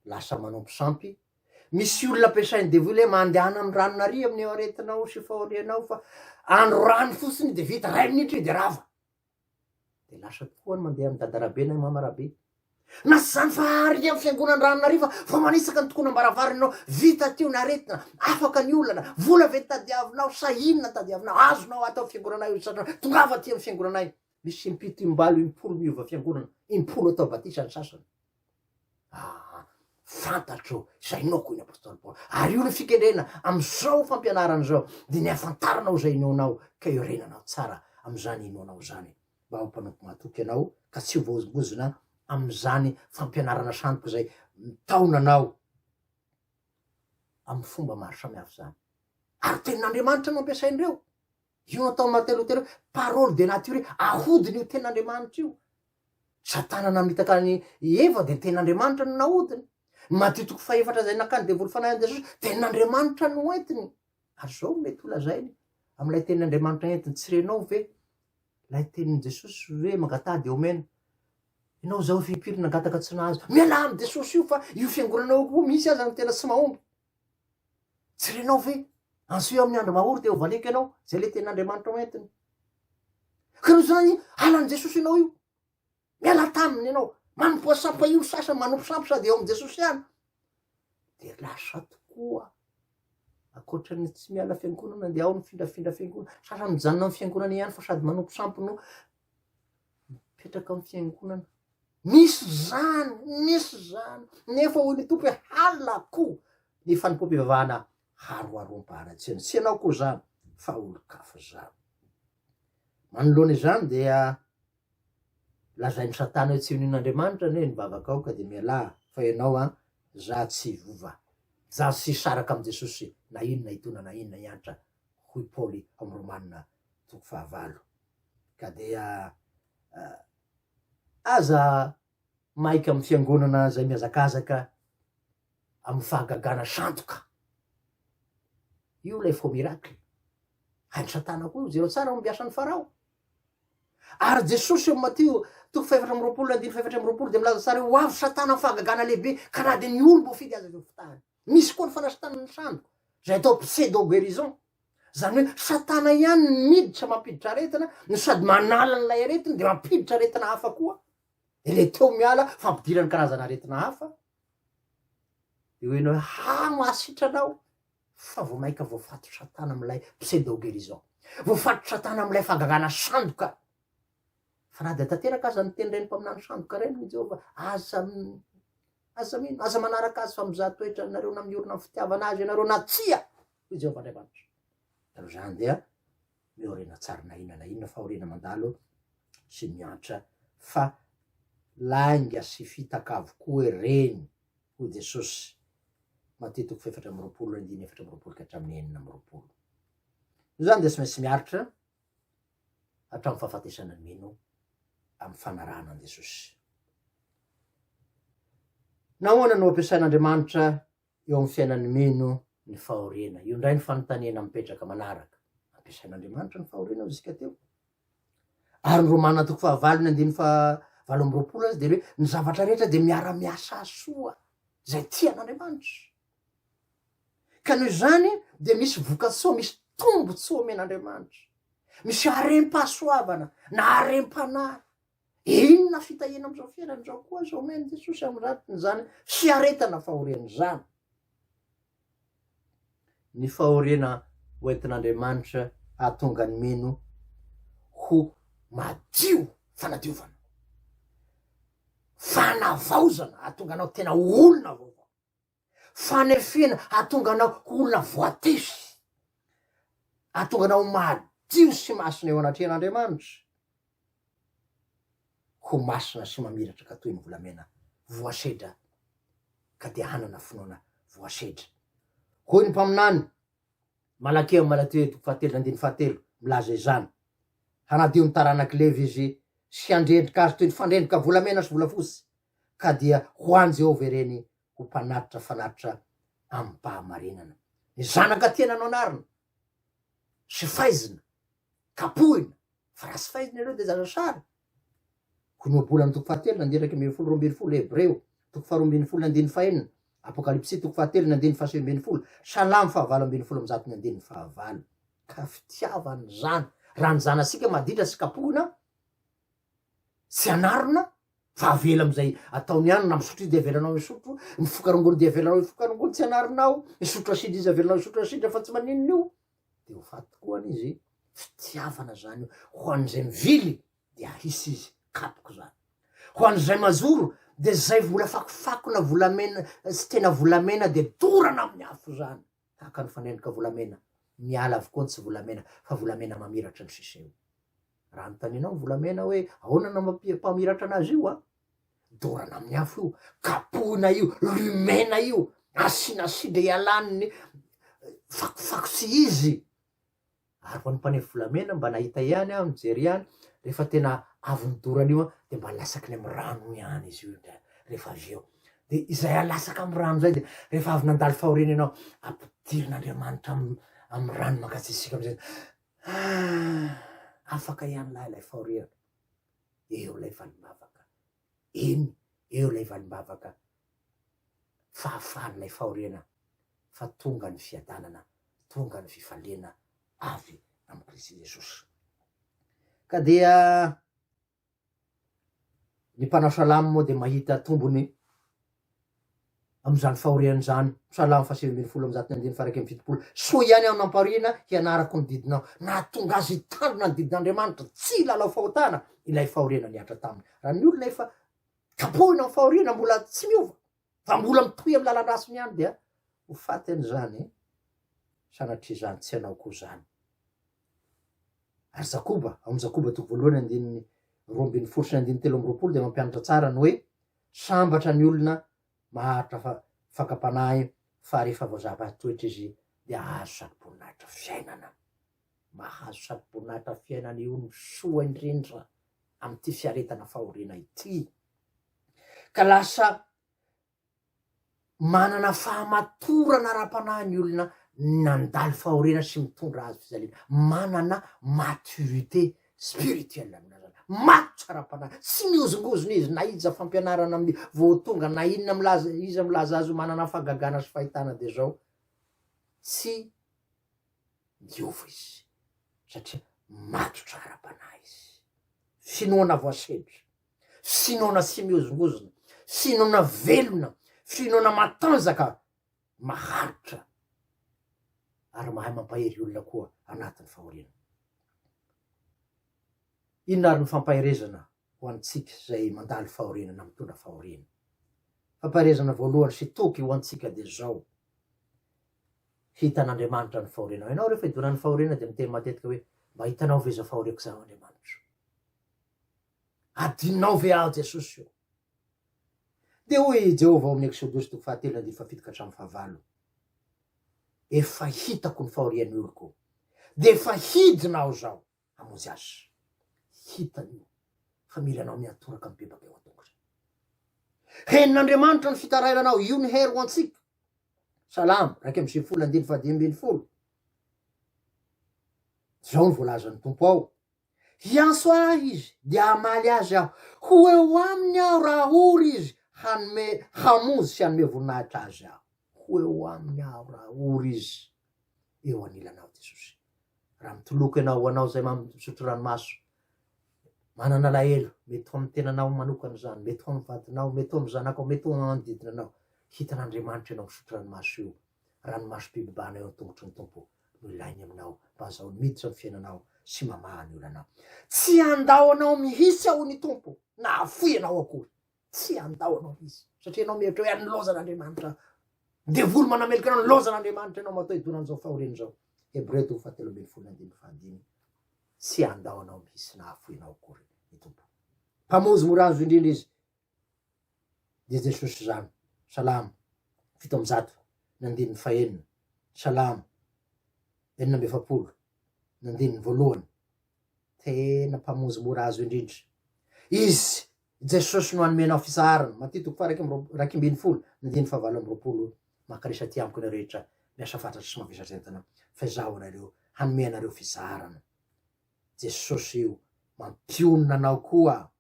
lasa manompo sampy. Misy olona ampiasain'ny devoly hoe mandehana amin'ny ranon'aria amin'ny aretinao sy fahorianao fa andro rano fotsiny dia vita, iray minitra io dia rava. Dia lasa koa ny mandeha amin'i Dadarabe na i Mamarabe. Na tsy izany fa àry ny amin'ny Fiangonan'Andranonaariva vao manitsaka ny tokonam-baravaranao, vita teo ny aretina, afaka ny olana, vola ve no tadiavinao sa inona no tadiavinao, azonao ato amin'ny Fiangonanay io satria tongava aty amin'ny Fiangonanay, misy impito, im-balo, impolo miova Fiangonana, impolo atao batisa ny sasany. Aa fantatro zay noho hoy ny apostoly Paoly, ary io no fikendrena amzao fampianarana zao, de ny hafantaranao zay inoanao ka iorenanao tsara amzany inoanao zany, mba ho mpanompo matoky ianao ka tsy ho voahozongozona amzany fampianarana sandoka zay mitaona anao am fomba maro samihafa zany, ary tenin'Andriamanitra no ampiasain'ireo, io no ataon'i Martin Lotera hoe parole de nature, ahodiny io tenin'Andriamanitra io, Satana namitaka an'i Eva dia ny tenin'Andriamanitra no nahodiny. Ny Matio toko fahefatra izay nakan'ny devoly fanahy an'i Jesosy, tenin'Andriamanitra no entiny. Ary izao no mety holazainy, amin'ilay tenin'Andriamanitra entiny, tsy renao ve ilay tenin'i Jesosy hoe mangataha dia homena? Ianao izao firy firy nangataka tsy nahazo. Mialà amin'i Jesosy io fa io fiangonanao io koa misy aza no tena tsy mahomby. Tsy renao ve? Anseho amin'ny andro mahory dia ho valiako ianao, izay ilay tenin'Andriamanitra ho entiny. Ka noho izany, halan'i Jesosy ianao io. Miala taminy ianao. Manompoa sampa io sasany, manompo sampa sady eo amin'i Jesosy ihany. Dia lasa tokoa ankoatra ny tsy miala fiangonana dia ao ny mifindrafindra fiangonana. Sasany mijanona amin'ny fiangonana ihany fa sady manompo sampy no mipetraka amin'ny fiangonana, misy izany, misy izany, nefa hoy ny Tompo hoe halako ny fanompoam-pivavahana haroharoam-paharatsiana, tsy ianao koa izany fa olon-kafa izany. Manoloana izany dia lazain'i Satana hoe tsy inoino Andriamanitra anie ny vavakao ka dia mialà fa ianao an, za tsy hiova, za tsy hisaraka amin'i Jesosy na inona hitona na inona hiantra, hoy Paoly ao amin'ny Romana toko fahavalo. ka dia aza maika amin'ny fiangonana izay mihazakazaka amin'ny fahagagana sandoka, io ilay faux miracle, hain'i satana koa io, jereo tsara ny mbiasan'i Farao, ary Jesosy eo Matio toko fahefatra amby roapolo andininy fahefatra amby roapolo dia milaza tsara hoe ho avy satana amin'ny fahagagana lehibe ka na dia ny olom-boafidy aza avy fitahany, misy koa ny fanasitranana ny sandoka izay atao pseudo guérison. Zany hoe satana ihany ny miditra mampiditra aretina no sady manala an'ilay aretina de mampiditra aretina hafa koa de le teo miala fampidirany karazana aretina hafa de hoe enao ha mahasitrana aho fa vao maika voafato satana am'ilay pseudo guérison voafato satana am'ilay fagagana sandoka fa na de tanteraka aza ny teny reny mpaminany sandoka reny ny jehovah aza aza mino aza manaraka azy fa mizaha toetra nareo na miorina ny fitiavana azy ianareo na tsia hoy Jehovah Andriamanitra. Raha izany dia miaoriana tsara na inona na inona fahoriana mandalo sy miantra fa lainga sy fitaka avokoa ireny, hoy Jesosy. Matio toko fahefatra amby roapolo andininy efatra amby roapolo ka hatramin'ny enina amby roapolo. Noho izany dia tsy maintsy miaritra hatramin'ny fahafatesana ny mino amin'ny fanarahana an'i Jesosy. Nahoana no ampiasain'Andriamanitra eo amin'ny fiainan'ny mino ny fahoriana. Io indray ny fanontaniana mipetraka manaraka. Ampiasain'Andriamanitra ny fahoriana hoy isika teo. Ary ny Romana toko fahavalo ny andininy fahavalo amby roapolo azy dia hoe ny zavatra rehetra dia miara-miasa soa izay tian'Andriamanitra. Ka noho izany dia misy vokatsoa, misy tombontsoa omen'Andriamanitra. Misy harem-pahasoavana na harem-panahy Inona fitahiana amin'izao fiainana izao koa aza omen'i Jesosy amin'ny ratin'izany fiaretana fahoriana izany? Ny fahoriana hoentin'Andriamanitra hahatonga ny mino ho madio, fanadiovana, fanavaozana, hahatonga anao tena olona vaovao. fanefena hahatonga anao ho olona voatefy, hahatonga anao ho madio sy masina eo anatrehan'Andriamanitra, ho masina sy mamiratraka toy ny volamena voasedra ka dia hanana finoana voasedra. Hoy ny mpaminany, Malakia amin'ny Malateo toko fahatelo andininy fahatelo, milaza izany, Hanadio ny taranak'i Levy izy sy handrendrika azy toy ny fandrendrika volamena sy volafotsy, ka dia ho an'i Jehovah ireny ho mpanatitra fanatitra amim-pahamarinana. Ny zanaka tiana noanarina sy faizina, kapohina, fa raha tsy faizina ianao dia zaza sary. Koa ny ohabolana toko fahatelo na diraika ambin'ny folo roa ambin'ny folo, Hebreo toko faharoa ambin'ny folo na andininy fahenina, Apokalypsy toko fahatelo na andininy fahasivy ambin'ny folo, Salamo fahavalo ambin'ny folo amin'ny zato na andininy fahavalo. Ka fitiavana izany, raha ny zanasika maditra tsy kapohina, tsy anarina fa avela amizay ataony any na misotro izy de avelanao misotro mifoka rongony de avelanao hifoka rongony tsy anarinao misotro asidra izy avelanao misotro asidra fa tsy maninona io de ho faty tokoa any izy fitiavana zany io ho an'izay mivily de ahisy izy kapoka zany ho an'izay mazoro de zay vola fakofako na volamena tsy tena volamena de dorana amin'ny afo zany tahaka ny fanendrika volamena miala avokoa ny tsy volamena fa volamena mamiratra ny siseo Raha anontanianao ny volamena hoe ahoana no mampamiratra anazy io an! dorana amin'ny afo io, kapohina io, lumena io, asiana sidra hialan'ny fakofako tsy izy. Ary ho an'ny mpanefy volamena mba nahita ihany aho nijery ihany, rehefa tena avon'ny dorana io an, dia mba lasakiny amin'ny rano ihany izy io dia rehefa avy eo. Dia izay alasaka amin'ny rano izay dia rehefa avy nandalo fahoriana ianao, ampidirin'Andriamanitra amin'ny amin'ny rano mangatsiatsiaka amin'izay. Ah! Afaka ihany lahy ilay fahoriana. Eo ilay valimbavaka. Eny, eo ilay valimbavaka fahafahan'ilay fahoriana fa tonga ny fiadanana, tonga ny fifaliana avy amin'i Kristy Jesosy. Ka dia Ny mpanao salamo moa dia mahita tombony amin'izany fahoriany izany. Salamo fahasivy ambin'ny folo amin'ny andininy faha iraika amby fitopolo. Soa ihany aho nampahoriana hianarako ny didinao. Nahatonga azy hitandrina ny didin'Andriamanitra, tsy hilalao fahotana ilay fahoriana nihatra taminy. Raha ny olona efa kapohina amin'ny fahoriana mbola tsy miova, Fa mbola mitohy amin'ny lalan-dratsiny ihany dia ho faty an'izany sanatria izany tsy hanao koa izany. Ary Jakoba, ao amin'ny Jakoba toko voalohany andininy roa ambin'ny folo sy ny andininy telo amby roapolo dia mampianatra tsara ny hoe sambatra ny olona maharitra fa fakam-panahy fa rehefa voazava toetra izy dia hahazo sarom-boninahitra fiainana. Mahazo sarom-boninahitra fiainana io ny soa indrindra amin'ity fiaretana fahoriana ity. ka lasa manana fahamatorana ara-panahy ny olona nandalo fahoriana sy mitondra hazo fijaliana, manana maturité spirituelle ny olona zany, matotra ara-panahy, tsy mihozongozona izy na iza fampianarana amin'ny vao tonga na inona milaza iza milaza azy ho manana fahagagana sy fahitana dia zao tsy miova izy satria matotra ara-panahy izy, finoana voasedra Finoana tsy mihozongozona, finoana velona, finoana matanjaka, maharitra ary mahay mampahery olona koa anatin'ny fahoriana. Inona ary ny fampaherezana ho antsika izay mandalo fahoriana na mitondra fahoriana? Fampaherezana voalohany sy toky ho antsika dia izao, hitan'Andriamanitra ny fahorianao. Ianao rehefa hidonan'ny fahoriana dia miteny matetika hoe, mba hitanao ve izao fahoriako izao Andriamanitra? Adinonao ve aho Jesosy o? Dia hoy i Jehovah ao amin'ny Eksodosy toko fahatelo andininy fahafito ka hatramin'ny fahavalo, Efa hitako ny fahorian'ny oloko, dia efa hidina aho izao hamonjy azy. Hitany io fa mila anao mihatoraka mibebaka eo an-tongotra. Henon'Andriamanitra ny fitarainanao, io ny hery ho antsika. Salamo iraika amby sivifolo andininy fahadimy ambin'ny folo. Izao no voalazan'ny Tompo ao, Hiantso ahy izy, dia hamaly azy aho, ho eo aminy aho raha ory izy hanome hamonjy sy hanome voninahitra azy aho. Ho eo aminy aho raha ory izy. Eo anilanao Jesosy. Raha mitoloko ianao, ho anao izay misotro ranomaso, manana alahelo, mety ho amin'ny tenanao manokana izany, mety ho amin'ny vadinao, mety ho amin'ny zanakao, mety ho amin'ny manodidina anao, hitan'Andriamanitra ianao misotro ranomaso io, Ranomasom-pibebahana eo an-tongotry ny Tompo no ilainy aminao mba hazahoany miditra ny fiainanao sy mamaha ny olanao. Tsy handao anao mihitsy aho, hoy ny Tompo, na hahafoy anao akory. Tsy handao anao mihitsy, satria ianao mihevitra hoe hanilaozan'Andriamanitra aho. Devoly manameloka anao, nilaozan'Andriamanitra ianao matoa hidona amin'izao fahoriana izao. Hebreo toko fahatelo ambin'ny folo andininy fahadimy. Tsy handao anao mihitsy na hahafoy anao akory ny Tompo. Mpamonjy mora azo indrindra Izy, dia Jesosy izany. Salamo fito amby zato ny andininy fahenina, Salamo enina amby efapolo ny andininy voalohany, tena Mpamonjy mora azo indrindra. Izy Jesosy no anomenao fisaharana, Matio toko faha iraika ambin'ny folo ny andininy fahavalo amby roapolo, Mankaiza aty amiko ianareo rehetra miasa fatratra sy mavesatretana, fa izaho anareo hanome anareo fisaharana. Jesosy io mampionona anao koa.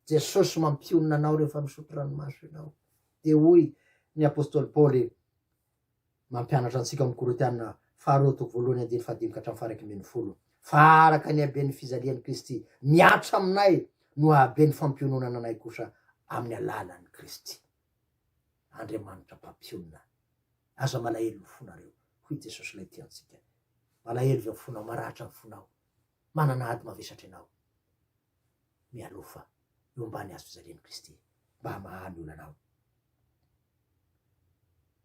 Jesosy mampionona anao rehefa misotro ranomaso ianao. Dia hoy ny apostoly Paoly mampianatra antsika ao amin'ny Korintiana faharoa toko voalohany andininy fahadimy ka hatramin'ny faharaika ambin'ny folo fa araka ny haben'ny fijalian'i Kristy mihatra aminay no habe ny fampiononana anay kosa amin'ny alalan'i Kristy. Andriamanitra mpampionona. Aza malahelo ny fonareo. Hoy Jesosy ilay tia antsika. Malahelo izao fonao, maratra ny fonao, manana ady mavesatra ianao. mialoha fa eo ambany hazo fijalian'i Kristy mba hamaha ny olana ao.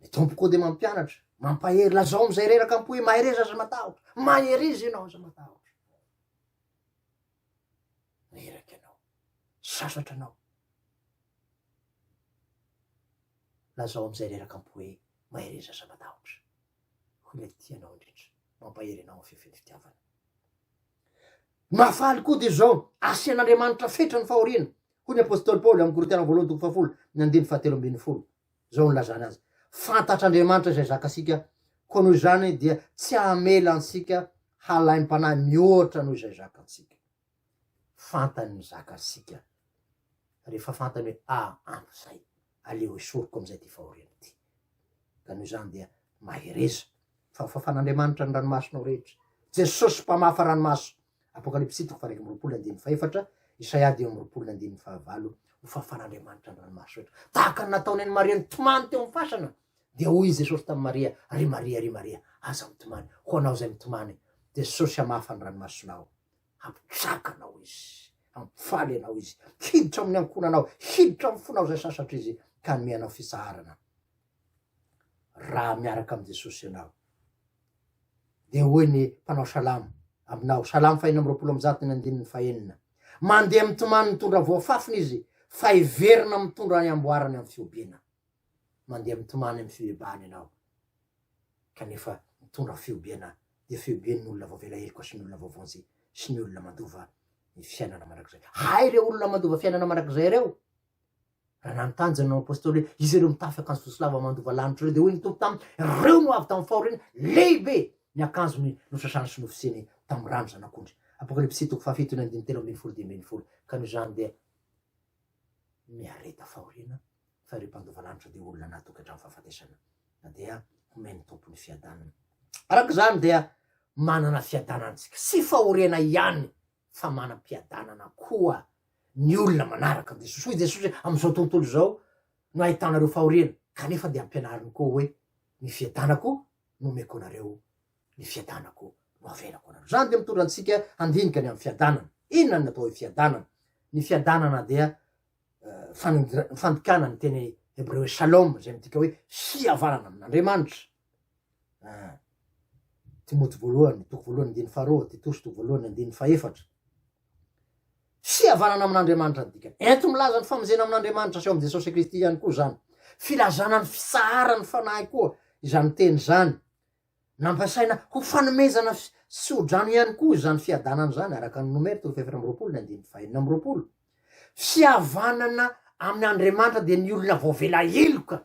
Ny Tompo koa dia mampianatra, mampahery, lazao amin'izay reraka am-po hoe mahereza aza matahotra, maheriza ianao aza matahotra. Reraka ianao, sasatra anao. Lazao amin'izay reraka am-po hoe mahereza aza matahotra. Hoy ilay tia anao indrindra, mampahery ianao amin'ny fefen'ny fitiavana. Ny mahafaly koa dia izao, asian'Andriamanitra fetra ny fahoriana, hoy ny apostoly Paoly amin'ny Korintiana voalohany toko fahafolo ny andininy fahatelo ambin'ny folo. Izao no nilazany azy, Fantatr'Andriamanitra izay zakantsika, koa noho izany dia tsy hamela antsika halaim-panahy mihoatra noho izay zakantsika. Fantany ny zakantsika, rehefa fantany hoe ampy izay. aleo esoriko amin'izay ity fahoriana ity. Ka noho izany dia mahereza, fa hofafan'Andriamanitra ny ranomasonao rehetra. Jesosy mpamafa ranomaso. Apokalypsy toko fahairaika amby roapolo andininy fahefatra, Isaia dimy amby roapolo andininy fahavalo, hofafan'Andriamanitra ny ranomaso rehetra. Tahaka ny nataony an'i Maria nitomany teo amin'ny fasana, dia hoy i Jesosy tamin'i Maria, Ry Maria, ry Maria, aza mitomany, ho anao izay mitomany, Jesosy hamafa ny ranomasonao. Hampijaka anao izy, hampifaly anao izy, hiditra amin'ny ankohonanao, hiditra amin'ny fonao izay sasatra izy, ka hanome anao fitsaharana. Raha miaraka amin'i Jesosy ianao, dia hoy ny mpanao salamo aminao, salamo fahina amby roapolo amby zato ny andininy fahenina, mandeha mitomany mitondra voafafiny izy, fa hiverina mitondra ny amboarany amin'ny fihobiana. Mandeha mitomany amin'ny fibebahana ianao, kanefa nitondra fihobiana dia fihobian'ny olona voavela heloka sy ny olona voavonjy sy ny olona mandova ny fiainana mandrakizay. Hay ireo olona mandova fiainana mandrakizay ireo! Raha nanontany izany nanao apostoly hoe izy ireo mitafy akanjo fosilava mandova lanitra ireo dia hoy ny tompo taminy ireo no avy tamin'ny fahoriana lehibe ny akanjony nosasany sy nofisiny tamin'ny rano zanak'ondry apokalypsy toko fahafito ny andiny telo ambin'ny folo dimy ambin'ny folo ka noho izany dia miareta fahoriana fa ireo mpandova lanitra dia olona anaty tokantrano fahafatesana na dia homen'ny Tompo ny fiadanana. Araka izany dia manana fiadanana antsika sy fahoriana ihany fa manam-piadanana koa ny olona manaraka an'i Jesosy. Hoy Jesosy hoe amin'izao tontolo izao no ahitanareo fahoriana kanefa dia ampianariny koa hoe ny fiadanako no omeko anareo, ny fiadanako no avelako anareo. Izany dia mitondra antsika handinika ny amin'ny fiadanana. Inona ny atao hoe fiadanana? Ny fiadanana dia fandikana ny teny hebreo hoe shalom izay midika hoe fihavanana amin'Andriamanitra. Ah. Timoty voalohany, toko voalohany andiny faharoa, Titosy toko voalohany andiny fahefatra. Fihavanana amin'Andriamanitra ny dikany. Ento milaza ny famonjena amin'Andriamanitra sy eo amin'i Jesosy Kristy ihany koa izany. Filazana ny fitsaharan'ny fanahy koa izany teny izany. Nampiasaina ho fanomezana fisotro-drano ihany koa izany fiadanana izany, araka ny Nomera toko fahefatra amby roapolo ny andininy fahenina amby roapolo. Fihavanana amin' Andriamanitra dia ny olona voavela heloka,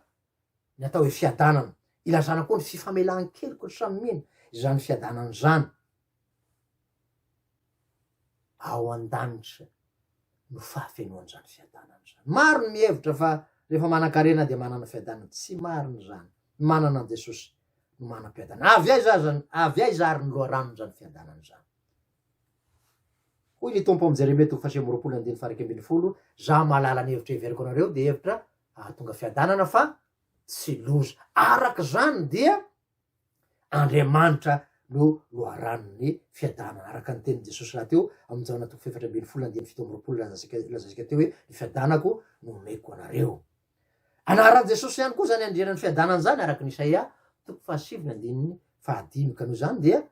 ny atao hoe fiadanana. Ilazana koa ny fifamelan-keloka samy mino izany fiadanana izany. ao an-danitra no fahafenoan'izany fiadanana izany. Maro ny mihevitra fa rehefa manan-karena dia manana fiadanana. Tsy marina izany. Ny manana an'i Jesosy no manam-piadanana. Avy aiza aza, avy aiza ary ny loharanon'izany fiadanana izany? Hoy ny Tompo amin'i Jeremia toko fahasivy amby roapolo andininy faha-iraika ambin'ny folo, Za mahalala ny hevitra heveriko anareo, dia hevitra hahatonga fiadanana fa tsy loza. Araka izany dia Andriamanitra no loharanon'ny fiadana. Araka ny tenin'i Jesosy rahateo amin'ny Jaona toko fahefatra ambin'ny folo andininy fito amby roapolo, lazaintsika lazaintsika teo hoe ny fiadanako no omeko anareo. Anaran'i Jesosy ihany koa izany andrianan'ny fiadanana izany araka ny Isaia toko fahasivy andininy fahadimy. Ka noho izany dia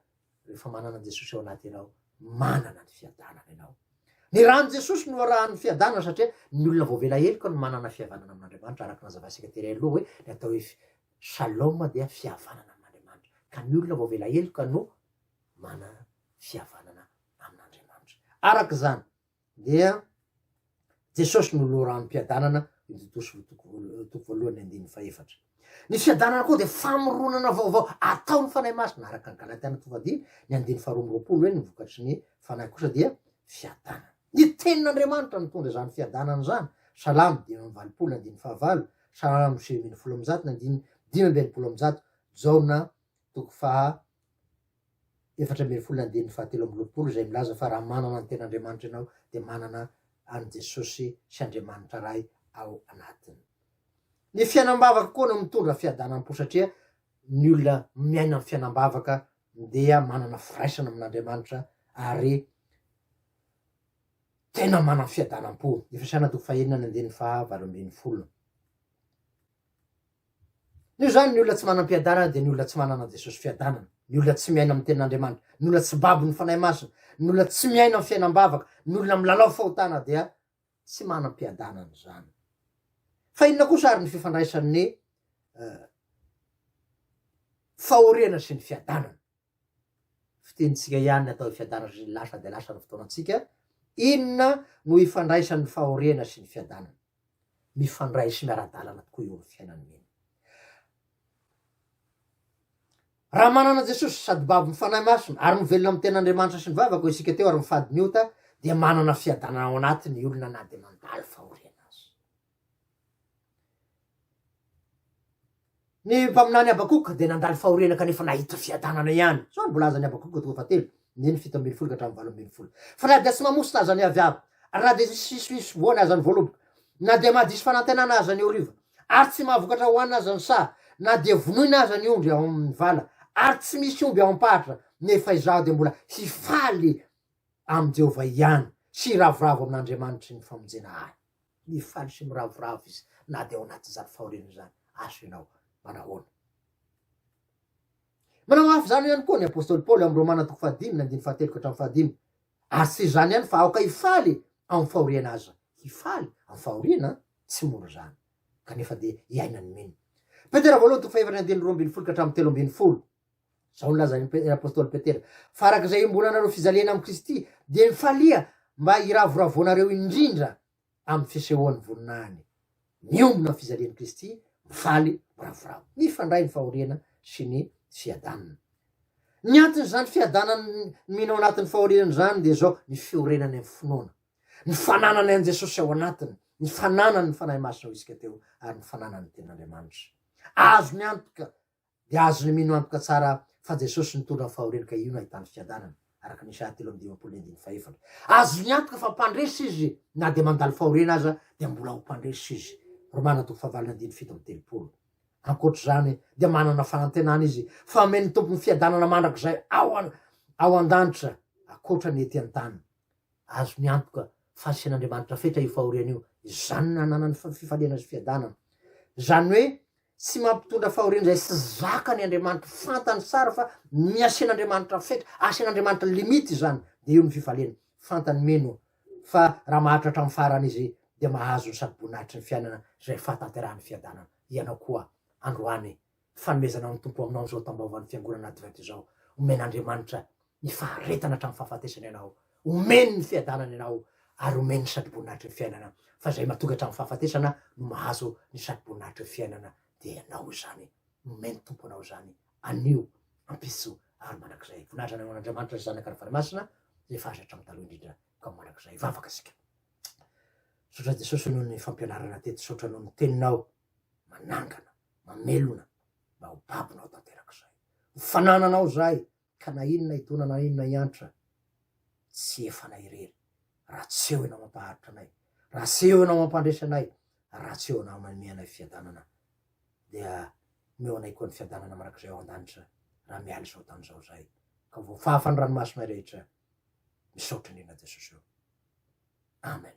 rehefa manana Jesosy ao anaty ianao, manana ny fiadanana ianao. Ny rany Jesosy no arahan'ny fiadanana satria ny olona voavela heloka no manana fihavanana amin'Andriamanitra araka ny nazavaintsika tery aloha hoe ny atao hoe Shalom dia fihavanana amin'Andriamanitra, ka ny olona voavela heloka no mana fihavanana amin'Andriamanitra. Araka izany dia Jesosy no loharanom-piadanana, Titosy toko voalohany andininy fahefatra. Ny fiadanana koa dia famoronana vaovao ataon'ny Fanahy Masina, araka ny Galatiana toko fahadimy ny andininy faharoa amby roapolo hoe ny vokatry ny Fanahy kosa dia fiadanana. Ny tenin'Andriamanitra nitondra izany fiadanana izany, Salamo dimy amby valopolo, andininy fahavalo, Salamo sivy ambin'ny folo amby zato, ny andininy dimy amby enimpolo amby zato, Jaona toko faha efatra ambin'ny folo, ny andininy fahatelo amby roapolo, izay milaza fa raha manana ny tenin'Andriamanitra ianao dia manana an'i Jesosy sy Andriamanitra Ray ao anatiny. Ny fiainam-bavaka koa no mitondra fiadanam-po satria ny olona miaina amin'ny fiainam-bavaka Ndeha manana firaisana amin'Andriamanitra are tena manam fiadanam-po. Efesiana toko fahenina ny andininy faha valo ambin'ny folo. Noho izany, ny olona tsy manam-piadanana dia ny olona tsy manana an'i Jesosy fiadanana, ny olona tsy miaina amin'ny tenin'Andriamanitra, ny olona tsy babon'ny Fanahy Masina, ny olona tsy miaina amin'ny fiainam-bavaka, ny olona milalao fahotana dia tsy manam-piadanana izany. Fa inona kosa ary ny fifandraisan'ny fahoriana sy ny fiadanana? Fitiantsika ihany ny atao hoe fiadanana satria lasa dia lasa ny fotoanantsika. Inona no ifandraisan'ny fahoriana sy ny fiadanana? Mifandray sy miara-dalana tokoa eo amin'ny fiainana mino. Raha manana Jesosy sady babo ny Fanahy Masina ary mivelona amin'ny tenan'Andriamanitra sy ny vavako isika teo ary mifady ny ota dia manana fiadanana ao anatiny ny olona na dia mandalo fahoriana aza. Ny mpaminany Habakoka dia nandalo fahoriana kanefa nahita fiadanana ihany. Izao no volazan'i Habakoka toka fahatelo. ny ny fito ambin'ny folo ka hatramin'ny valo ambin'ny folo. Fa na dia tsy mamositra aza ny aviara, na dia tsy misy fisoboana aza ny voaloboka, na dia mahadiso fanantenana aza ny horiva, ary tsy mahavokatra hohanina aza ny saha, na dia vonoina aza ny ondry ao amin'ny vala, ary tsy misy omby ao am-paritra, nefa izaho dia mbola hifaly amin'i Jehovah ihany, sy hiravoravo amin'Andriamanitry ny famonjena ahy. Mifaly sy miravoravo izy na dia ao anatin'izany fahoriana izany. Aso ianao. Manahoana? Manao hafa izany ihany koa ny apostoly Paoly ao amin'ny Romana toko fahadimy ny andininy fahatelo ka hatramin'ny fahadimy. Ary tsy izany ihany fa aoka hifaly ao amin'ny fahoriana aza. Hifaly ao amin'ny fahoriana an! Tsy mora izany. Kanefa dia iaina ny mino. Petera voalohany toko fahefatra ny andininy roa ambin'ny folo ka hatramin'ny telo ambin'ny folo. Izao no lazain'ny apostoly Petera, Fa araka izay iombonanareo fijaliana amin'i Kristy, dia mifalia mba hiravoravoanareo indrindra amin'ny fisehoan'ny voninahiny miombona ny fijalian'i Kristy, mifaly, miravoravo. Mifandray ny fahoriana sy ny fiadanana. Ny anton'izany fiadanan'ny mino ao anatin'ny fahoriana izany dia izao, ny fiorenany amin'ny finoana, ny fananany an'i Jesosy ao anatiny, ny fananany ny Fanahy Masina hoy isika teo, ary ny fananany ny Tenin'Andriamanitra. Azony antoka dia azony mino antoka tsara fa Jesosy nitondra ny fahoriany ka io no ahitany fiadanana, araka ny Isa telo amby dimampolo ny andininy fahefatra. Azony antoka fa mpandresy izy na dia mandalo fahoriana aza dia mbola ho mpandresy izy, Romana toko fahavalony andininy fito amby telopolo. Ankoatra izany dia manana fanantenana izy fa omen'ny Tompo ny fiadanana mandrakizay ao an-danitra, ankoatra ny ety an-tany. Azony antoka fa asian'Andriamanitra fetra io fahoriana io, izany no ananany fifaliana sy fiadanana. Izany hoe tsy mampitondra fahoriana izay tsy zakany Andriamanitra, fantany tsara fa ny asian'Andriamanitra fetra, asian'Andriamanitra limite izany, dia io no fifaliany. Fantany mino fa raha mahatratra amin'ny farany izy dia mahazo ny sady boninahitry ny fiainana izay fahatanterahan'ny fiadanana. Ianao koa androany Fanomezana ny Tompo aminao izao tambaovan'ny Fiangonana Advent izao. Omen'Andriamanitra ny faharetana hatramin'ny fahafatesana ianao. Omeny ny fiadanana ianao ary omeny ny satroboninahitry ny fiainana. Fa izay matoky hatramin'ny fahafatesana no mahazo ny satroboninahitry ny fiainana. Dia ianao izany. Nomeny ny Tompo anao izany. Anio, ampitso ary mandrakizay. Voninahitra ny an'Andriamanitra, ny Zanaka ary ny Fanahy Masina izay efa azo hatramin'ny taloha indrindra ka ho mandrakizay. Hivavaka isika. Misaotra Jesosy noho ny fampianarana teto. Misaotra noho ny Teninao manangana. mamelona mba ho babonao tanterak'izay. Ho fanananao izay ka na inona idona na inona iantra tsy efanay irery raha tsy eo ianao mampaharitra anay, raha tsy eo ianao mampandresy anay, raha tsy eo ianao manome anay fiadanana dia omeo anay koa ny fiadanana mandrakizay ao an-danitra raha miala izao tany izao izay ka ho voafafa ny ranomasonay rehetra. Misaotra indrindra Jesosy o. Amen.